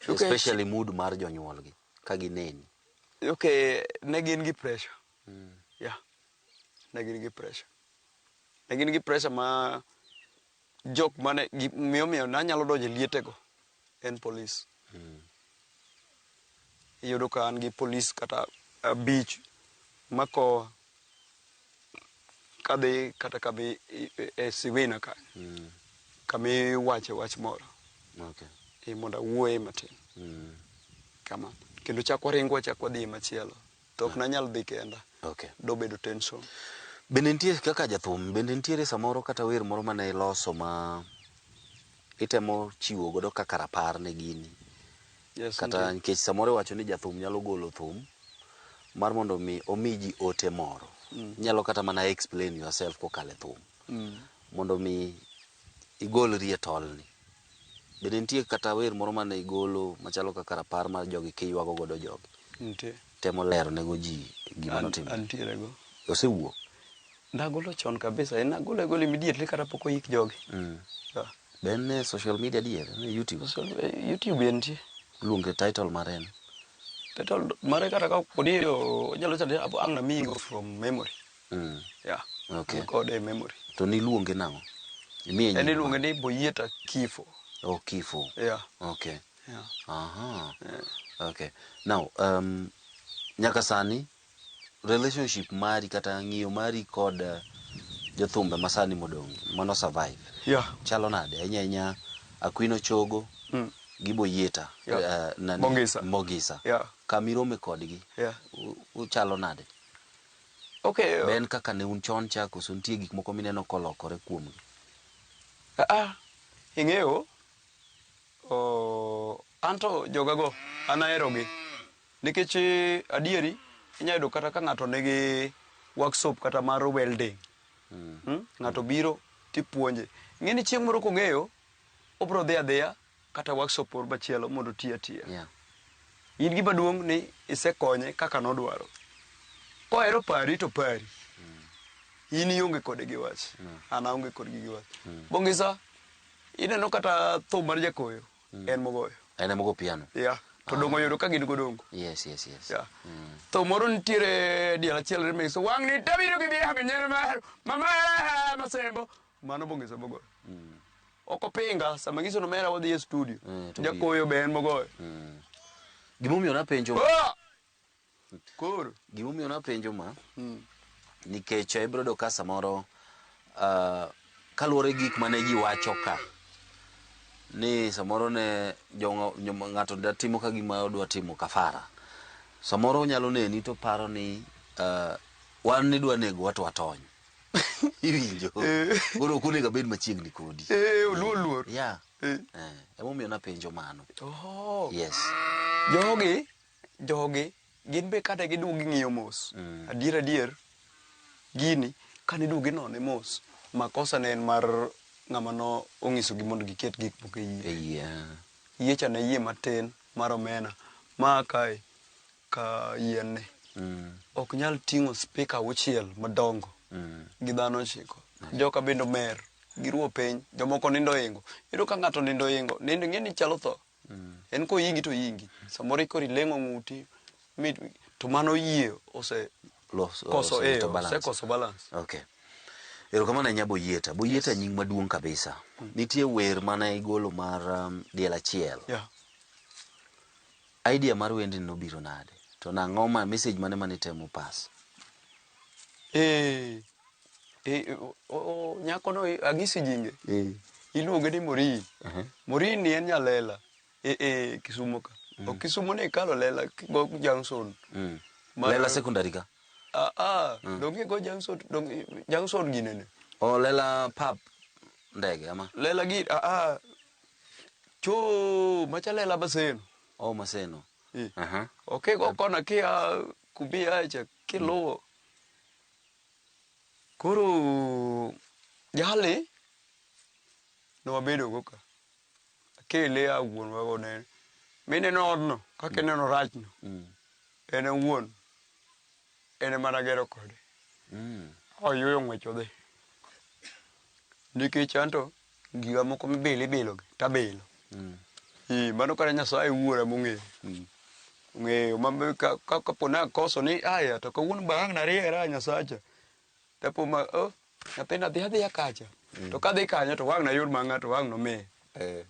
Okay. Especially mood mar jonyuolgi ka gineni. okay ne gin gi pressure yeah ne gin gi presha. Ne gin gi presha ma jok mane miyomiyo nanyalo donjo e lietego en polis. Hmm. Iyudo ka an gi polis kata abich makowa kadhi kata kadhi e siwina ka hmm. kami wache wach moro mondo awuoye matin hmm. kama kendo chak waringo wachak wadhi machielo to ok nanyal dhi kenda. Okay. Dobedo tension. Bende nitie kaka jathum, bende nitiere samoro kata wer moro mane iloso ma itemo chiwo godo kaka rapar ne gini? Yes, kata nitie. nikech samoro iwacho ni jathum nyalo golo thum mar mondo mi omi ji ote moro. Inyalo kata mana explain yourself kokalo e thum. Mondo mi igolri e tolni. Bende nitie kata wer moro mane igolo machalo kaka rapar mar jogi kiywago godo jogi? Nitie. Temo lero ne go ji gima An- notimore. antiere go Osewuok. nagolo chon kabisa en nagolo agolo immediately kata pok oyik jogi Mm. Yeah. Be en e social media dier, en e YouTube. So, eh, youtube entie Luonge title mare en. title mare kata ka podi onyalo chande ang' namiyigo from memory Mm. Yeah. Okay. An kode e memory. To niluonge nang'o? Imiye En nying iluonge mane? ni Boyieta Kifo. Oh, Kifo. Yeah. Okay. Yeah. Aha. Yeah. Okay. Now, um, nyaka sani relationship mari kata ng'iyo mari kod uh, jothumbe masani modong' mano survive Yeah. chalo nade ahinya ahinya Akwino Chogo Mm. gi Boyieta Yeah. eh, nani? Mogisa. Mogisa. Yeah. kamirome kodgi Yeah. u- uchalo nade Be en kaka ne un chon cha koso nitie gik moko mineno kolokore kuomgi? Aa, ing'eyo, oh, an to jogago an aherogi. Nikech adieri inyalo yudo kata ka ng'ato nigi workshop kata mar welding, ng'ato biro tipuonje. Ing'e ni chieng' moro kong'eyo, obiro dhi adhiya kata workshop moro machielo mondo oti atiya. Yeah. In gima duong' ni isekonye kaka nodwaro. Kohero pari to pari. Mm. In ionge kode gi wach. Mm. An aonge kodgi gi wach. Mm. Bongisa ineno kata thum mar jakoyo mm. en mogoyo. En emogo piano. Yeah. To dongo ah. yudo ka gin godongo. Yes, yes, yes. Yeah. Mm. To moro nitiere diel achiel remix. Wang' ni tabiro gi biya gi nyer mar mama masembo. Mano bong'iso bogoyo. Ok opinga sama ngiso no mera wadhi e studio. Mm, to Jakoyo be en bogoyo. Gimomiyo napenjo Ah! Koro. gimomiyo napenjo ma nikech eh, ibiro yudo ka samoro ah, kaluwore gi gik mane ji wacho ka ni samoro ne jo- jo- ng'ato da timo ka gima odwa timo kafara samoro onyalo neni to paro ni ah, wan nidwa negowa to watony iwinjo Eh. koro ok onego abed machiegni kodi Eh, oluo luor ya Eh. Eh, emomiyo napenjo mano Oho. yes jogi jogi gin be kata giduogo ging'iyo mos Mm. adier adier gini kane iduogo inone mos makosa ne en mar ng'ama no ong'isogi mondo giket gik moko e yie Ei, ah. yie cha ne yie matin mar omena ma kae ka yien ni ok nyal ting'o spika auchiel madongo gi dhano ochiko joka bende omer giruo piny jomoko nindo oingo iyudo ka ng'ato nindo oingo nindo ing'e ni chalo tho en koyingi to yingi samoro ikori leng'o ng'uti mi- to mano yie ose Los- koso ose- eh, to balance. osekoso balance Okay. Erokamano ahinya Boyieta. Boyieta Yes. nying maduong' kabisa. Nitie wer mane igolo mar um, diel achiel. yeah. Idea mar wendni nobiro nade? To nang'o ma message mane mane itemo pass? Eeh, eh, o- o- nyakono i- ang'isi jinge Eh. iluonge ni morin Aha. morin ni en nyalela e, e kisumo ka ok kisumo ne ikalo lela go junction Mm. Mar- Lela secondary ka. ah, ah, donge go junction donge junction ginene O lela pap ndege ama. lela gi ah, ah, Choo, machale la Maseno. Oh, Maseno. Eh. Aha. Okay, go kona kia kubi acha kiluwo. Koro jali ne wabedo go ka. Akele a wuon wa go ne. Mine no odno, kaka ineno rachno. Mm. En e wuon. en ema nagero kode mm. oyuyo ng'wech odhi nikech anto giga moko mibilo ibilogi tabilo mm. e, mano kata nyasaye wuora mong'eyo mm. ng'eyo kapo ni akoso ni aya to kawuono bang' nariera nyasacha Tapo ma oh, nyathini adhi adhiya kacha. Mm. To kadhi kanyo to wang' nayud ma ng'ato wang' nomiye. Eh.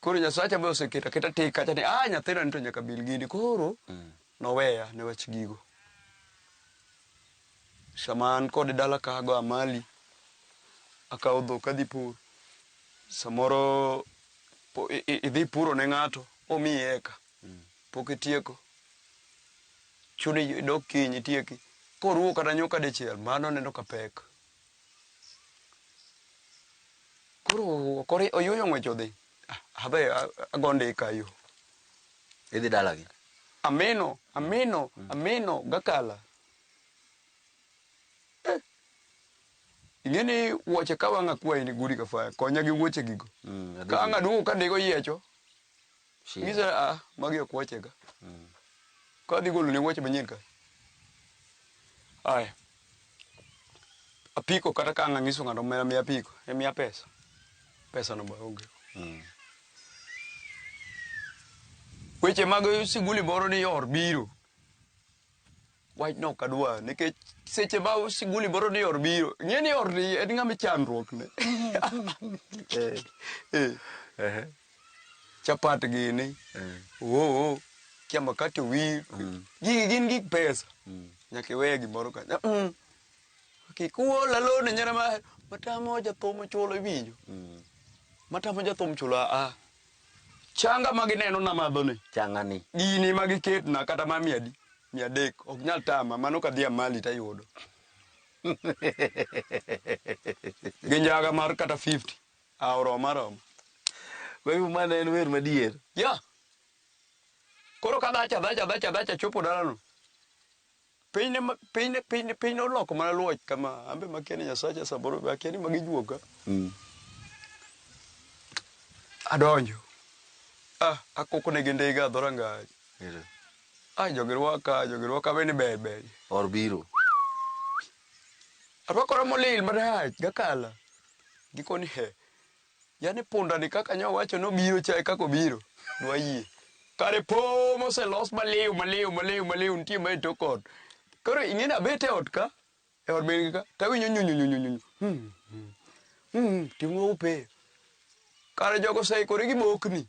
Koro Nyasacha be oseketa keta tik kacha ni ah nyathina ni to nyaka bil gini. Koro mm. noweya ne wach gigo. Sama an kod dala kago amali akawo dhok adhi pur. Samoro idhi puro ne ng'ato omiyi eka. Mm. Pok itieko Chuni idog kiny itieki. Koruwo kata nyuka dichiel mano aneno ka pek. Koro okori oyuoyo ng'wech odhi. Ah, Adhi a- ago ndika yo. Idhi dalagi. Amino, amino, amino gakala. Eh. Ing'e ni wuoche ka wang' akwayi ni gudi ka faya, konya gi wuoche gigo. Mm, Ka ang' aduogo ka ndigo yiecho, Shida. Ng'ise a magi ok wuochega. Ka adhi goloni wuoche manyien ka. Aya. Apiko kata ka ang' ang'iso ng'ato omera miya apiko, e miya pesa. Pesano be onge. Weche mag siguli moro ni or biro. Wachno ok adwa nikech seche ma siguli moro ni or biro ng'e ni or ni en ng'ama chandruok ne Eh, eh. Ehe. chapat gini Eh. oo kia makati owir gigi gin gik pesa nyaka iweye gimoro ka Mm. kik uol alone nyara ma matamo jathum chulo iwinjo matamo jathum chulo aa Changa ma gineno namadhoni. Changani. Gini ma giketna kata ma mia adi? Mia adek. Ok nyal tama. Mano ka adhi Amali to ayudo. Gi njaga mar kata 50. Ah, oroma aroma. Kwa hivyo mano en wer madier. Yeah. Koro kadhacha dhacha dhacha dhacha chopo dalano. Piny ne piny ne piny ne piny ne oloko mana luoch kama ambe makia ni nyasacha samoro be akia ni magi juoga adonjo ah akoko ne gi ndiga adhora ngaj Ere. ah jogi rwaka jogi rwaka be ni ber ber Or biro. arwakora molil marach gakala gikoni he Yaani punda ni kaka nyo wacho no biro cha e kako biro. Dwa yie. Kare po mose los maliu maliu maliu maliu nitie ma e tok ot. Koro ing'eni abet e ot ka, e ot min gi ka, tawinyo nyunyu nyunyu nyunyu. Hmm. Hmm. Ting'o upe. Kare jogo se kore gi bokni.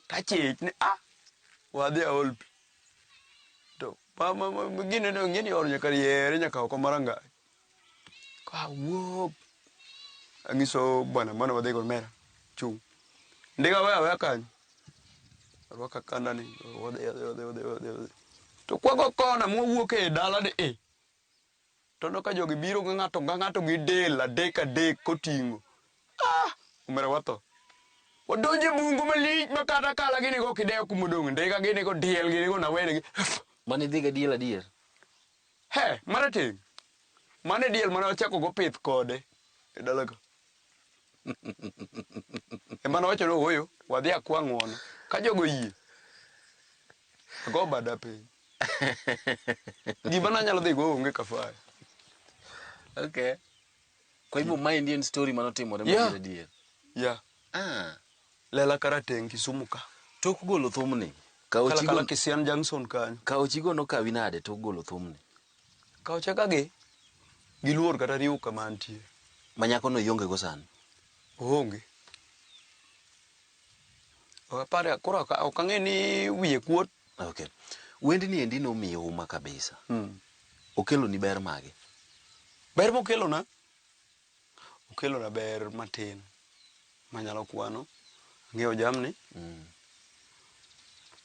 Tachich ni ah. Wadhi aol pi. To ma ma ma gine no ing'eni ot nyaka yere nyaka oko maranga. Kwa wuop. Anyiso bwana mwana wadhi gol mera. Chung'. Ndiga wewe wewe kanyo. Rwaka kanda ni. Wadhi wadhi wadhi wadhi wadhi. wadhi. To kwago kona mwawuok e dala ni e. To no ka jogi biro gi ng'ato ga ng'ato gi del adek adek koting'o. Ah, umera watho. Wadonje bungu malich ma kata kala gini go kidewo kumodong. Ndiga gini go diel gini go nawene gi. Mane dhiga diel adier. He, marateng'. Mano e diel mane wachakogo pith kode e dalaga. Ema nowacho ni ooyo, wadhi akwa ng'uono. Ka jogo oyie, ago bada piny. Gima nanyalo dhigo onge kafara. Okay. Kwa hivyo maendi en story manotimore Yeah. madier adier. ya Ah. lela karateng' kisumu ka Tok golo thumni. Kaochi kalakala go- kisian junction kanyo kaochi go nokawi nade tok golo thumni? kaocha ka gi giluor kata riwo kama antie Ma nyakono ionge go sani. oonge apare koro ok ok ang'e ni wiye kuot Ok. Wendni endi nomiyi huma kabisa. Okeloni ber mage? Ber mokelona, okelona ber matin manyalo kwano. Ang'iewo jamni,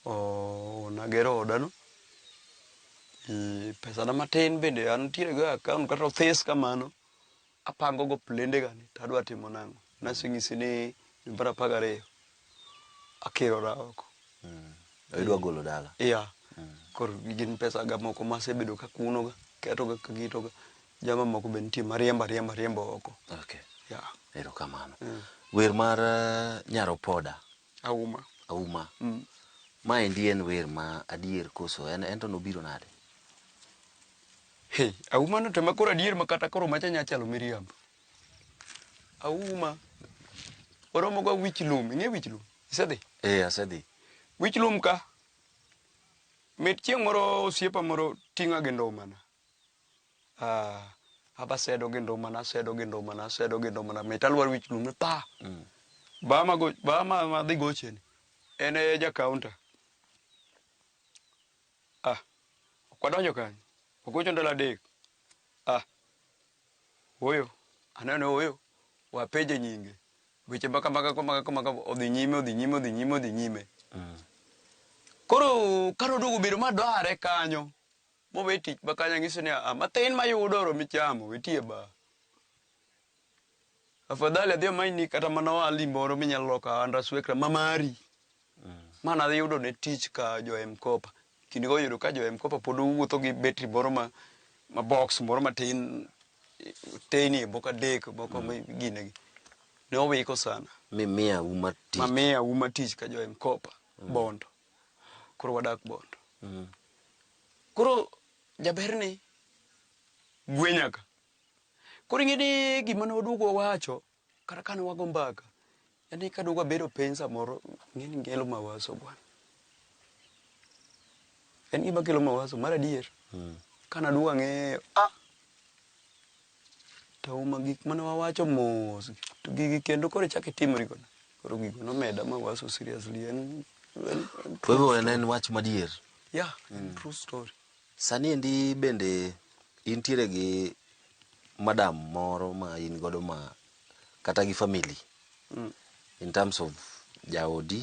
oh, nagero odano, eh, pesana matin bende antiere go e akaont kata othis kamano. apango go plende ga ni to adwa timo nang'o, naseng'isi ni dwe mar apar gariyo akirora oko. To idwa golo dala. Yeah. Koro gin pesa ga moko masebedo kakuno ga, keto ga kaketo ga. Jama moko be nitie mariembo ariemba ariembo oko. Okay. Yeah. Erokamano. Wer mar eh, Nyar Opoda, Auma. Auma. Maendi en wer ma adier koso en ento nobiro nade? Hey, auma no tema koro adier ma kata koro macha nya chalo miriambo. Auma. Oromo ga wich lum, ing'e wich lum? Isedhi? Eh, asedhi. Wich lum ka. Mit chieng' moro osiepa moro ting'a gi ndomana. Ah, aba sedo gi ndomana, sedo gi ndomana, sedo gi ndomana. Mit alwar wich lum ni pa. Mm. Ba ma go, ba ma ma dhi gocheni. En e ja counter. Ah, ok wadonjo kanyo. Ogocho ndalo adek. Ah, ooyo, aneno ni ooyo. Wapenje nyinge. Weche ma kamaga kamaga kamaga odhi nyime, odhi nyime, odhi nyime, odhi nyime. Koro ka noduogo bedo ma dware kanyo, mowe tich ma kanyo ang'ise ni, "Ah, matin mayudo oromi chamo, wetie ba." Afadhali adhi amanyni kata mana ohalni moro minyalo loko ahanda swekra ma mari. Ma nayudo ne tich ka jo M-Kopa. Kinde go oyudo ka jo M-Kopa pod owuotho gi betri moro ma ma box moro matin teyni e moko adek moko ma gine gi. Ne owiko sana. Mimiya uma Ma tich. miya uma tich ka jo M-Kopa Bondo. Koro wadak Bondo. Mm. Koro jaberni gwenya ka. Koro ing'e ni gima ne waduogo wawacho kata kane wago mbaka en ni ka duogo abedo piny samoro ing'e ni ngelo mawaso bwana. En gima kelo mawaso mar adier. Mm. Kane aduogo ang'eyo ah to uma gik mane wawacho mos to gigi kendo koro chak itimri godo. Koro gigo nomeda mawaso seriously en en, en Kwa hivyo en en wach madier. yeah, en true story. Sani endi bende intiere gi madam moro ma in godo ma kata gi family mm. in terms of jaodi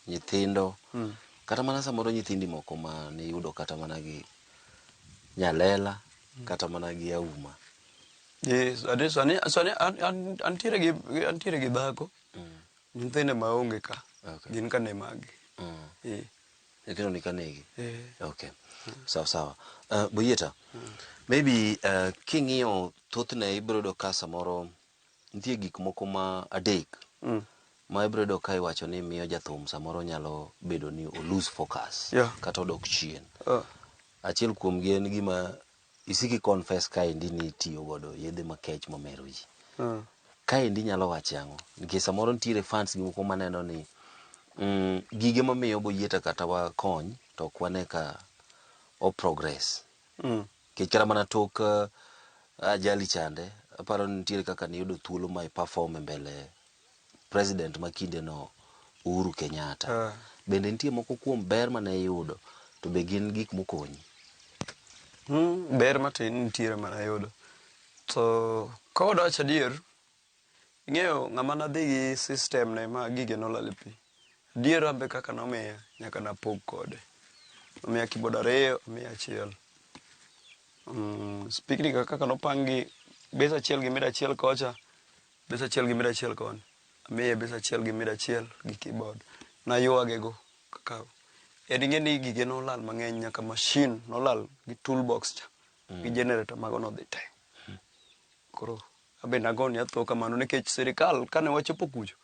nyithindo mm. kata mana samoro nyithindi moko ma niyudo kata mana gi nyalela mm. kata mana gi auma antiere gi dhako mm. nyithinde maonge ka okay. gin ka ne magi mm. Nyithindo ni ka negi? Eh. Okay. Sawa sawa. Uh, Boyeta, maybe uh, king'iyo thothne ibiro yudo ka samoro nitie gik moko ma adek Mm. ma ibiro yudo ka iwacho ni miyo jathum samoro nyalo bedo ni o lose focus Yeah. kata odok chien. Uh, Achiel kuomgi en gima Isiko i confess kaendi ni itiyo godo yedhe makech mamero ji. Mm. Kaendi inyalo wache ang'o? Nikech samoro nitiere fans gi moko maneno ni mm, gige mamiyo boyieta kata wakony to ok wane ka o progress. Mm. Nikech kata mana tok uh, ajali chande, aparo ni nitiere kaka niyudo thuolo ma i perform e mbele president ma kindeno Uhuru Kenyatta. Bende nitie moko kuom ber mane iyudo to be gin gik mokonyi? Mm, ber matin nitiere mana yudo. To ka wadwach adier, ing'eyo ng'ama nadhi gi system ne ma gige nolal e pi. Adier an be kaka nomiya nyaka napog kode. Nomiya keyboard ariyo, omiya achiel. Mm, speaker kaka nopang gi, base achiel gi mid achiel kocha, Bes achiel gi mida achiel koni. Amiye bes achiel gi mida achiel gi keyboard. Nayuage go kaka en ing'e ni gige nolal mang'eny nyaka machine nolal gi tool box cha gi generator mago nodhi te. Koro abe nago ne atho kamano nikech sirikal kane wachopo kucho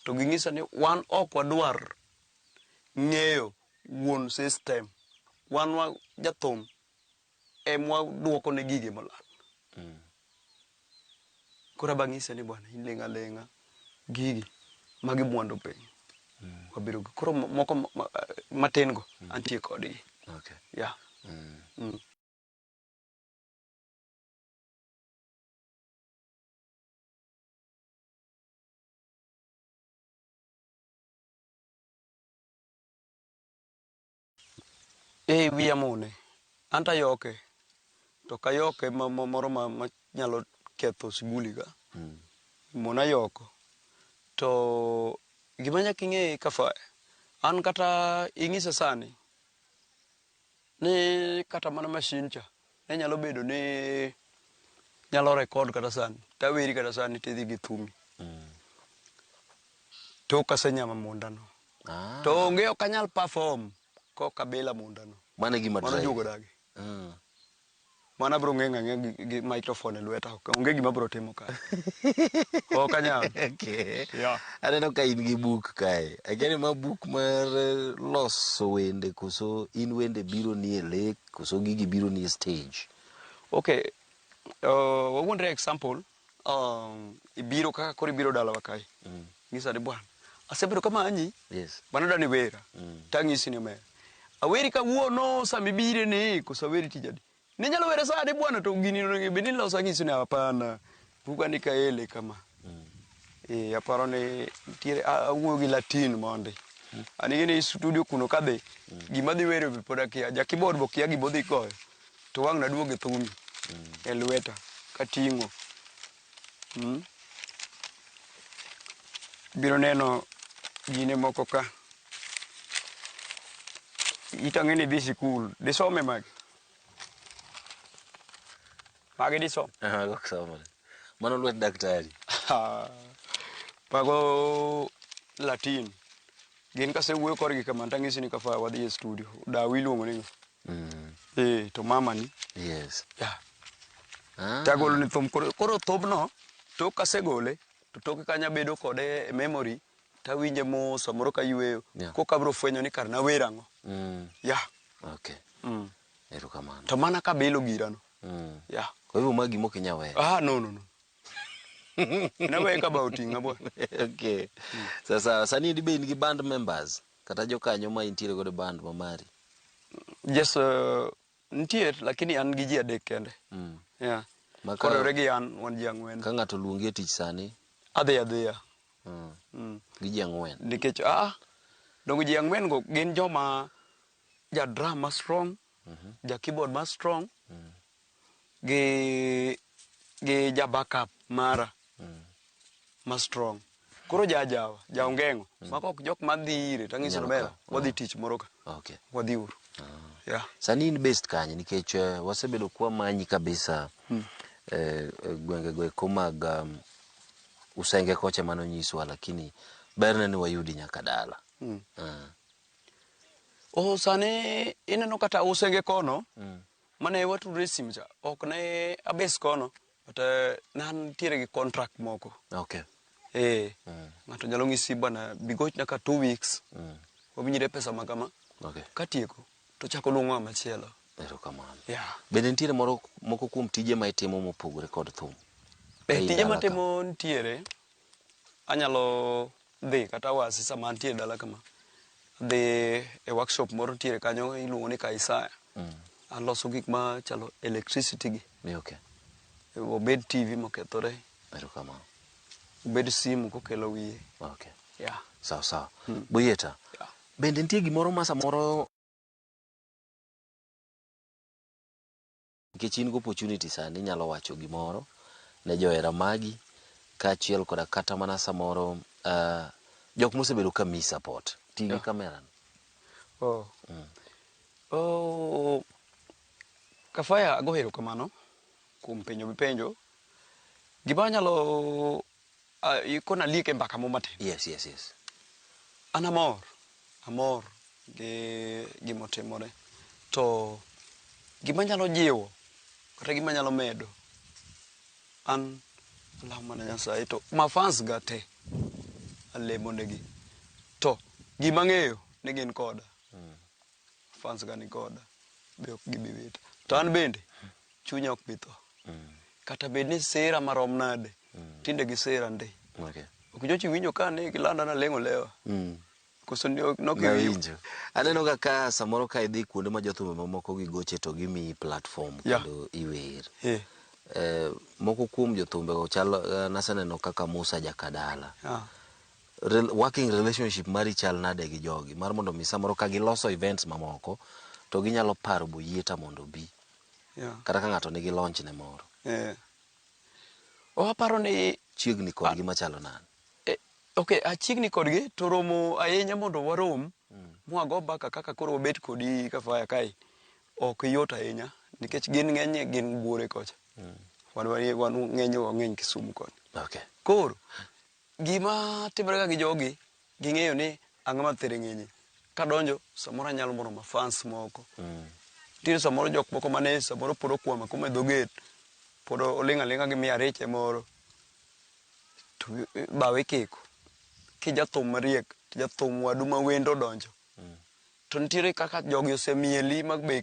to ging'isa ni wan ok wadwar ng'eyo wuon system. Wan wa jathum. emwa duoko ne gige molal. Koro aba ng'ise ni bwana iling' aling'a gigi magi mwandu piny. Wabiro gi koro mo- moko ma- ma- matin go antie kodgi. Okay. Yeah. Mm. Ee wiya amone. Anto ayoke to ok ayoke moro manyalo ketho shughuli ga. Mona ayoko. To gima nyaka ing'e ka faya, an kata inyisa sani ni kata mana mashin cha Ne nyalo bedo ni nyalo record kata sani taweri kata sani tidhi gi thumi tok asenyama mondano Ah, to onge ok anyal perform kok abila mondano mano e gima mano drive. juogo dagi Mm. mano abro ng'eng' ang'e gi, gi microphone e lweta ok- onge gima abro timo ka ok anyal Okay. Yeah. aneno ka in gi buk kae akiani ma buk mar eh, loso wende koso in wende biro ni e lek Koso gigi biro ni e stage? Okay, uh, wawuondre example um, ibiro kaka koro ibiro dalawa kae mm. ng'isa ni bwana asebedo kamanyi yes. bana dani wera mm. tang'isi ni omera aweri kawuono sama ibire ni koso aweri tijadi ninyalo were sani bwana to gini bende niloso ang'isi ni hapana Buga ni kaele kama. Eh, aparo ni nitiere a- awuoyo gi Latin mondi. Anige ni studio kuno kadhi gima dhi wero be pod akia. Ja keyboard bo kia gimodhi goyo. To wang' naduog e thumi. E lweta kating'o. Mm. Biro neno gine moko ka. Itang'e ni dhi sikul. Disome magi. Magi disom. Ah, go somo. Mano lwet daktari. Ah, Mago Latin. Gin kasewuoyo korgi kamano tang'isi ni kafa wadhi e studio. Dawi iluongo ni ng'a? Mm, Eh, to mama ni. yes. Yeah. Ah, Tagolo ni thum koro koro thumno tok kasegole to toke kanyo abedo kode e memory tawinje mos samoro kayueyo. Yeah. Koka abiro fwenyo ni kar nawer ang'o. mm, Yeah. okay. Mm. Erokamano. To mana kabilo gira no. Mm. Yeah. Kwa hivyo ma gimo kinya wewe. Ah no no no. Nawe ka ba otinga bo. okay. Mm. Sasa sani dibe in gi band members kata jokanyo ma intiere godo band ma mari. Yes, uh, nitie lakini an gi ji adek kende. Mm. Yeah. Maka, Kodore gi an wan ji ang'wen. Ka ng'ato luongi e tich sani? Adhi adhiya. Mm. Mm. Gi ji ang'wen. Nikech ah dongo ji ang'wen go gin joma Ja drum ma strong, ja keyboard ma strong, gi gi ja backup mara ma strong. Koro ja ajawa, ja ongeng'o, mago ok jok madhi ire tang'ise Nyalo Lomela, kawo. wadhi tich moro ka. Okay. Wadhi uru. Yeah. Sani in based kanye? Nikech eh, wasebedo kwa manyi kabisa eh, eh, gwenge go eko mag um, Usenge kocha mano nyiswa lakini berne ni wayudi nyaka dala. Ah. Oh, sani ineno kata usenge kono mm. mane watudre simu cha ok ne abes kono but uh, nan tiere gi contract moko okay. eh, mm. ng'ato nyalo ng'isi bana bigoch nyaka two weeks mm. wawinjre pesa ma kama okay. katieko to chako luongo ng'a machielo erokamano yeah. bende nitiere moro moko kuom tije ma itimo mopogore kod thum eh, tije matimo nitiere Anyalo dhi kata awasi sama antie e dala kama. Adhi e workshop moro nitiere kanyo iluongo ni Kaisaya. Aloso gik ma chalo electricity gi. Ni okay. Obed TV mokethore, Erokamano. obed simu kokelo wiye. Okay. Yeah. Sawa sawa. Boyeta. Yeah. Bende nitie gimoro ma samoro Nikech in gi opportunity sani inyalo wacho gimoro ne johera magi kaachiel koda kata mana samoro uh, jok mosebedo ka miyi support. Ti gi kamera. Oh. Mm. Oh. Kafaya ago erokamano kuom penjo mipenjo. Gima anyalo Ah, ikona aliek e mbaka mo matin. Yes, yes, yes. An amor, amor gi gimotimore. To gima nyalo jiwo, kata gima nyalo medo, an alamo mana Nyasaye to ma fans ga te alemonegi. To gima ng'eyo ni gin koda. fans ga ni koda be ok gibi wita to an bende chunya ok bi tho kata bed ni sira marom nade tinde gi sira ndi Okay. ok nyochi winjo ka ne gilanda na lengo lewa Mm. koso ni ok nok Nawinjo. Aneno ga ka samoro ka idhi kuonde ma jothumbe mamoko gi goche to gimiyi platform Yeah. kendo iwer. eh Eh, moko kuom jothumbe go chalo eh, naseneno kaka Musa Jakadala. ah working relationship mari chal nade gi jogi mar mondo mi samoro ka giloso events mamoko to ginyalo paro boyieta mondo obi yeah. kata ka ng'ato nigi launch ne moro yeah. oh, aparo ni chiegni kodgi ah. machalo nan eh, ok achiegni kodgi to romo ahinya mondo warom mm. mwago baka kaka koro wabet kodi kafaya kae ok yot ahinya nikech gin ng'eny gin buore kocha mm. wan ng'eny wang'eny kisumu koni okay. koro Gima timore ka gi jogi, ging'eyo ni an ng'ama thiring'inyi. Kadonjo, samoro anyalo moro ma fans moko. Mm. Nitiere samoro jok moko mane samoro pod okwama kuma e dho gate, pod oling' aling'a gi miya riche moro, to bawa ikiko. Kijathum mariek, jathum wadu ma wendo odonjo, mm. to nitiere kaka jogi osemieli ma be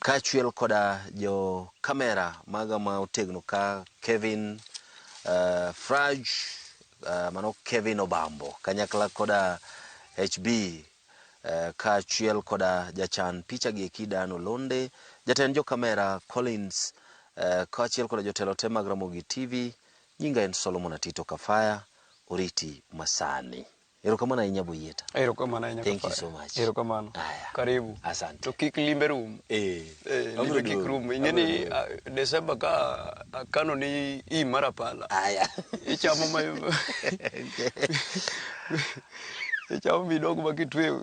Kaachiel koda jo kamera maga ma otegno ka Kevin uh, Fraj uh, mano Kevin Obambo kanyakla koda HB uh, kaachiel koda jachan picha gi eki Dan Olonde, jatend jo kamera Collins uh, kaachiel koda jotelo te mag Ramogi TV. Nyinga en Solomon Atito Kafaya, oriti masani. Erokamano ahinya Boyieta. Erokamano ahinya Thank you kapara. so much. Erokamano. Aya. Karibu. Asante. To kik limbe rum. Eh, Eh, abiro limbe kik duogo. rum. Ing'e Abiro ni duogo. ah, Desemba ka akano ni i mara pala. Aya. Ichamo ma ichamo midog ma kitweyo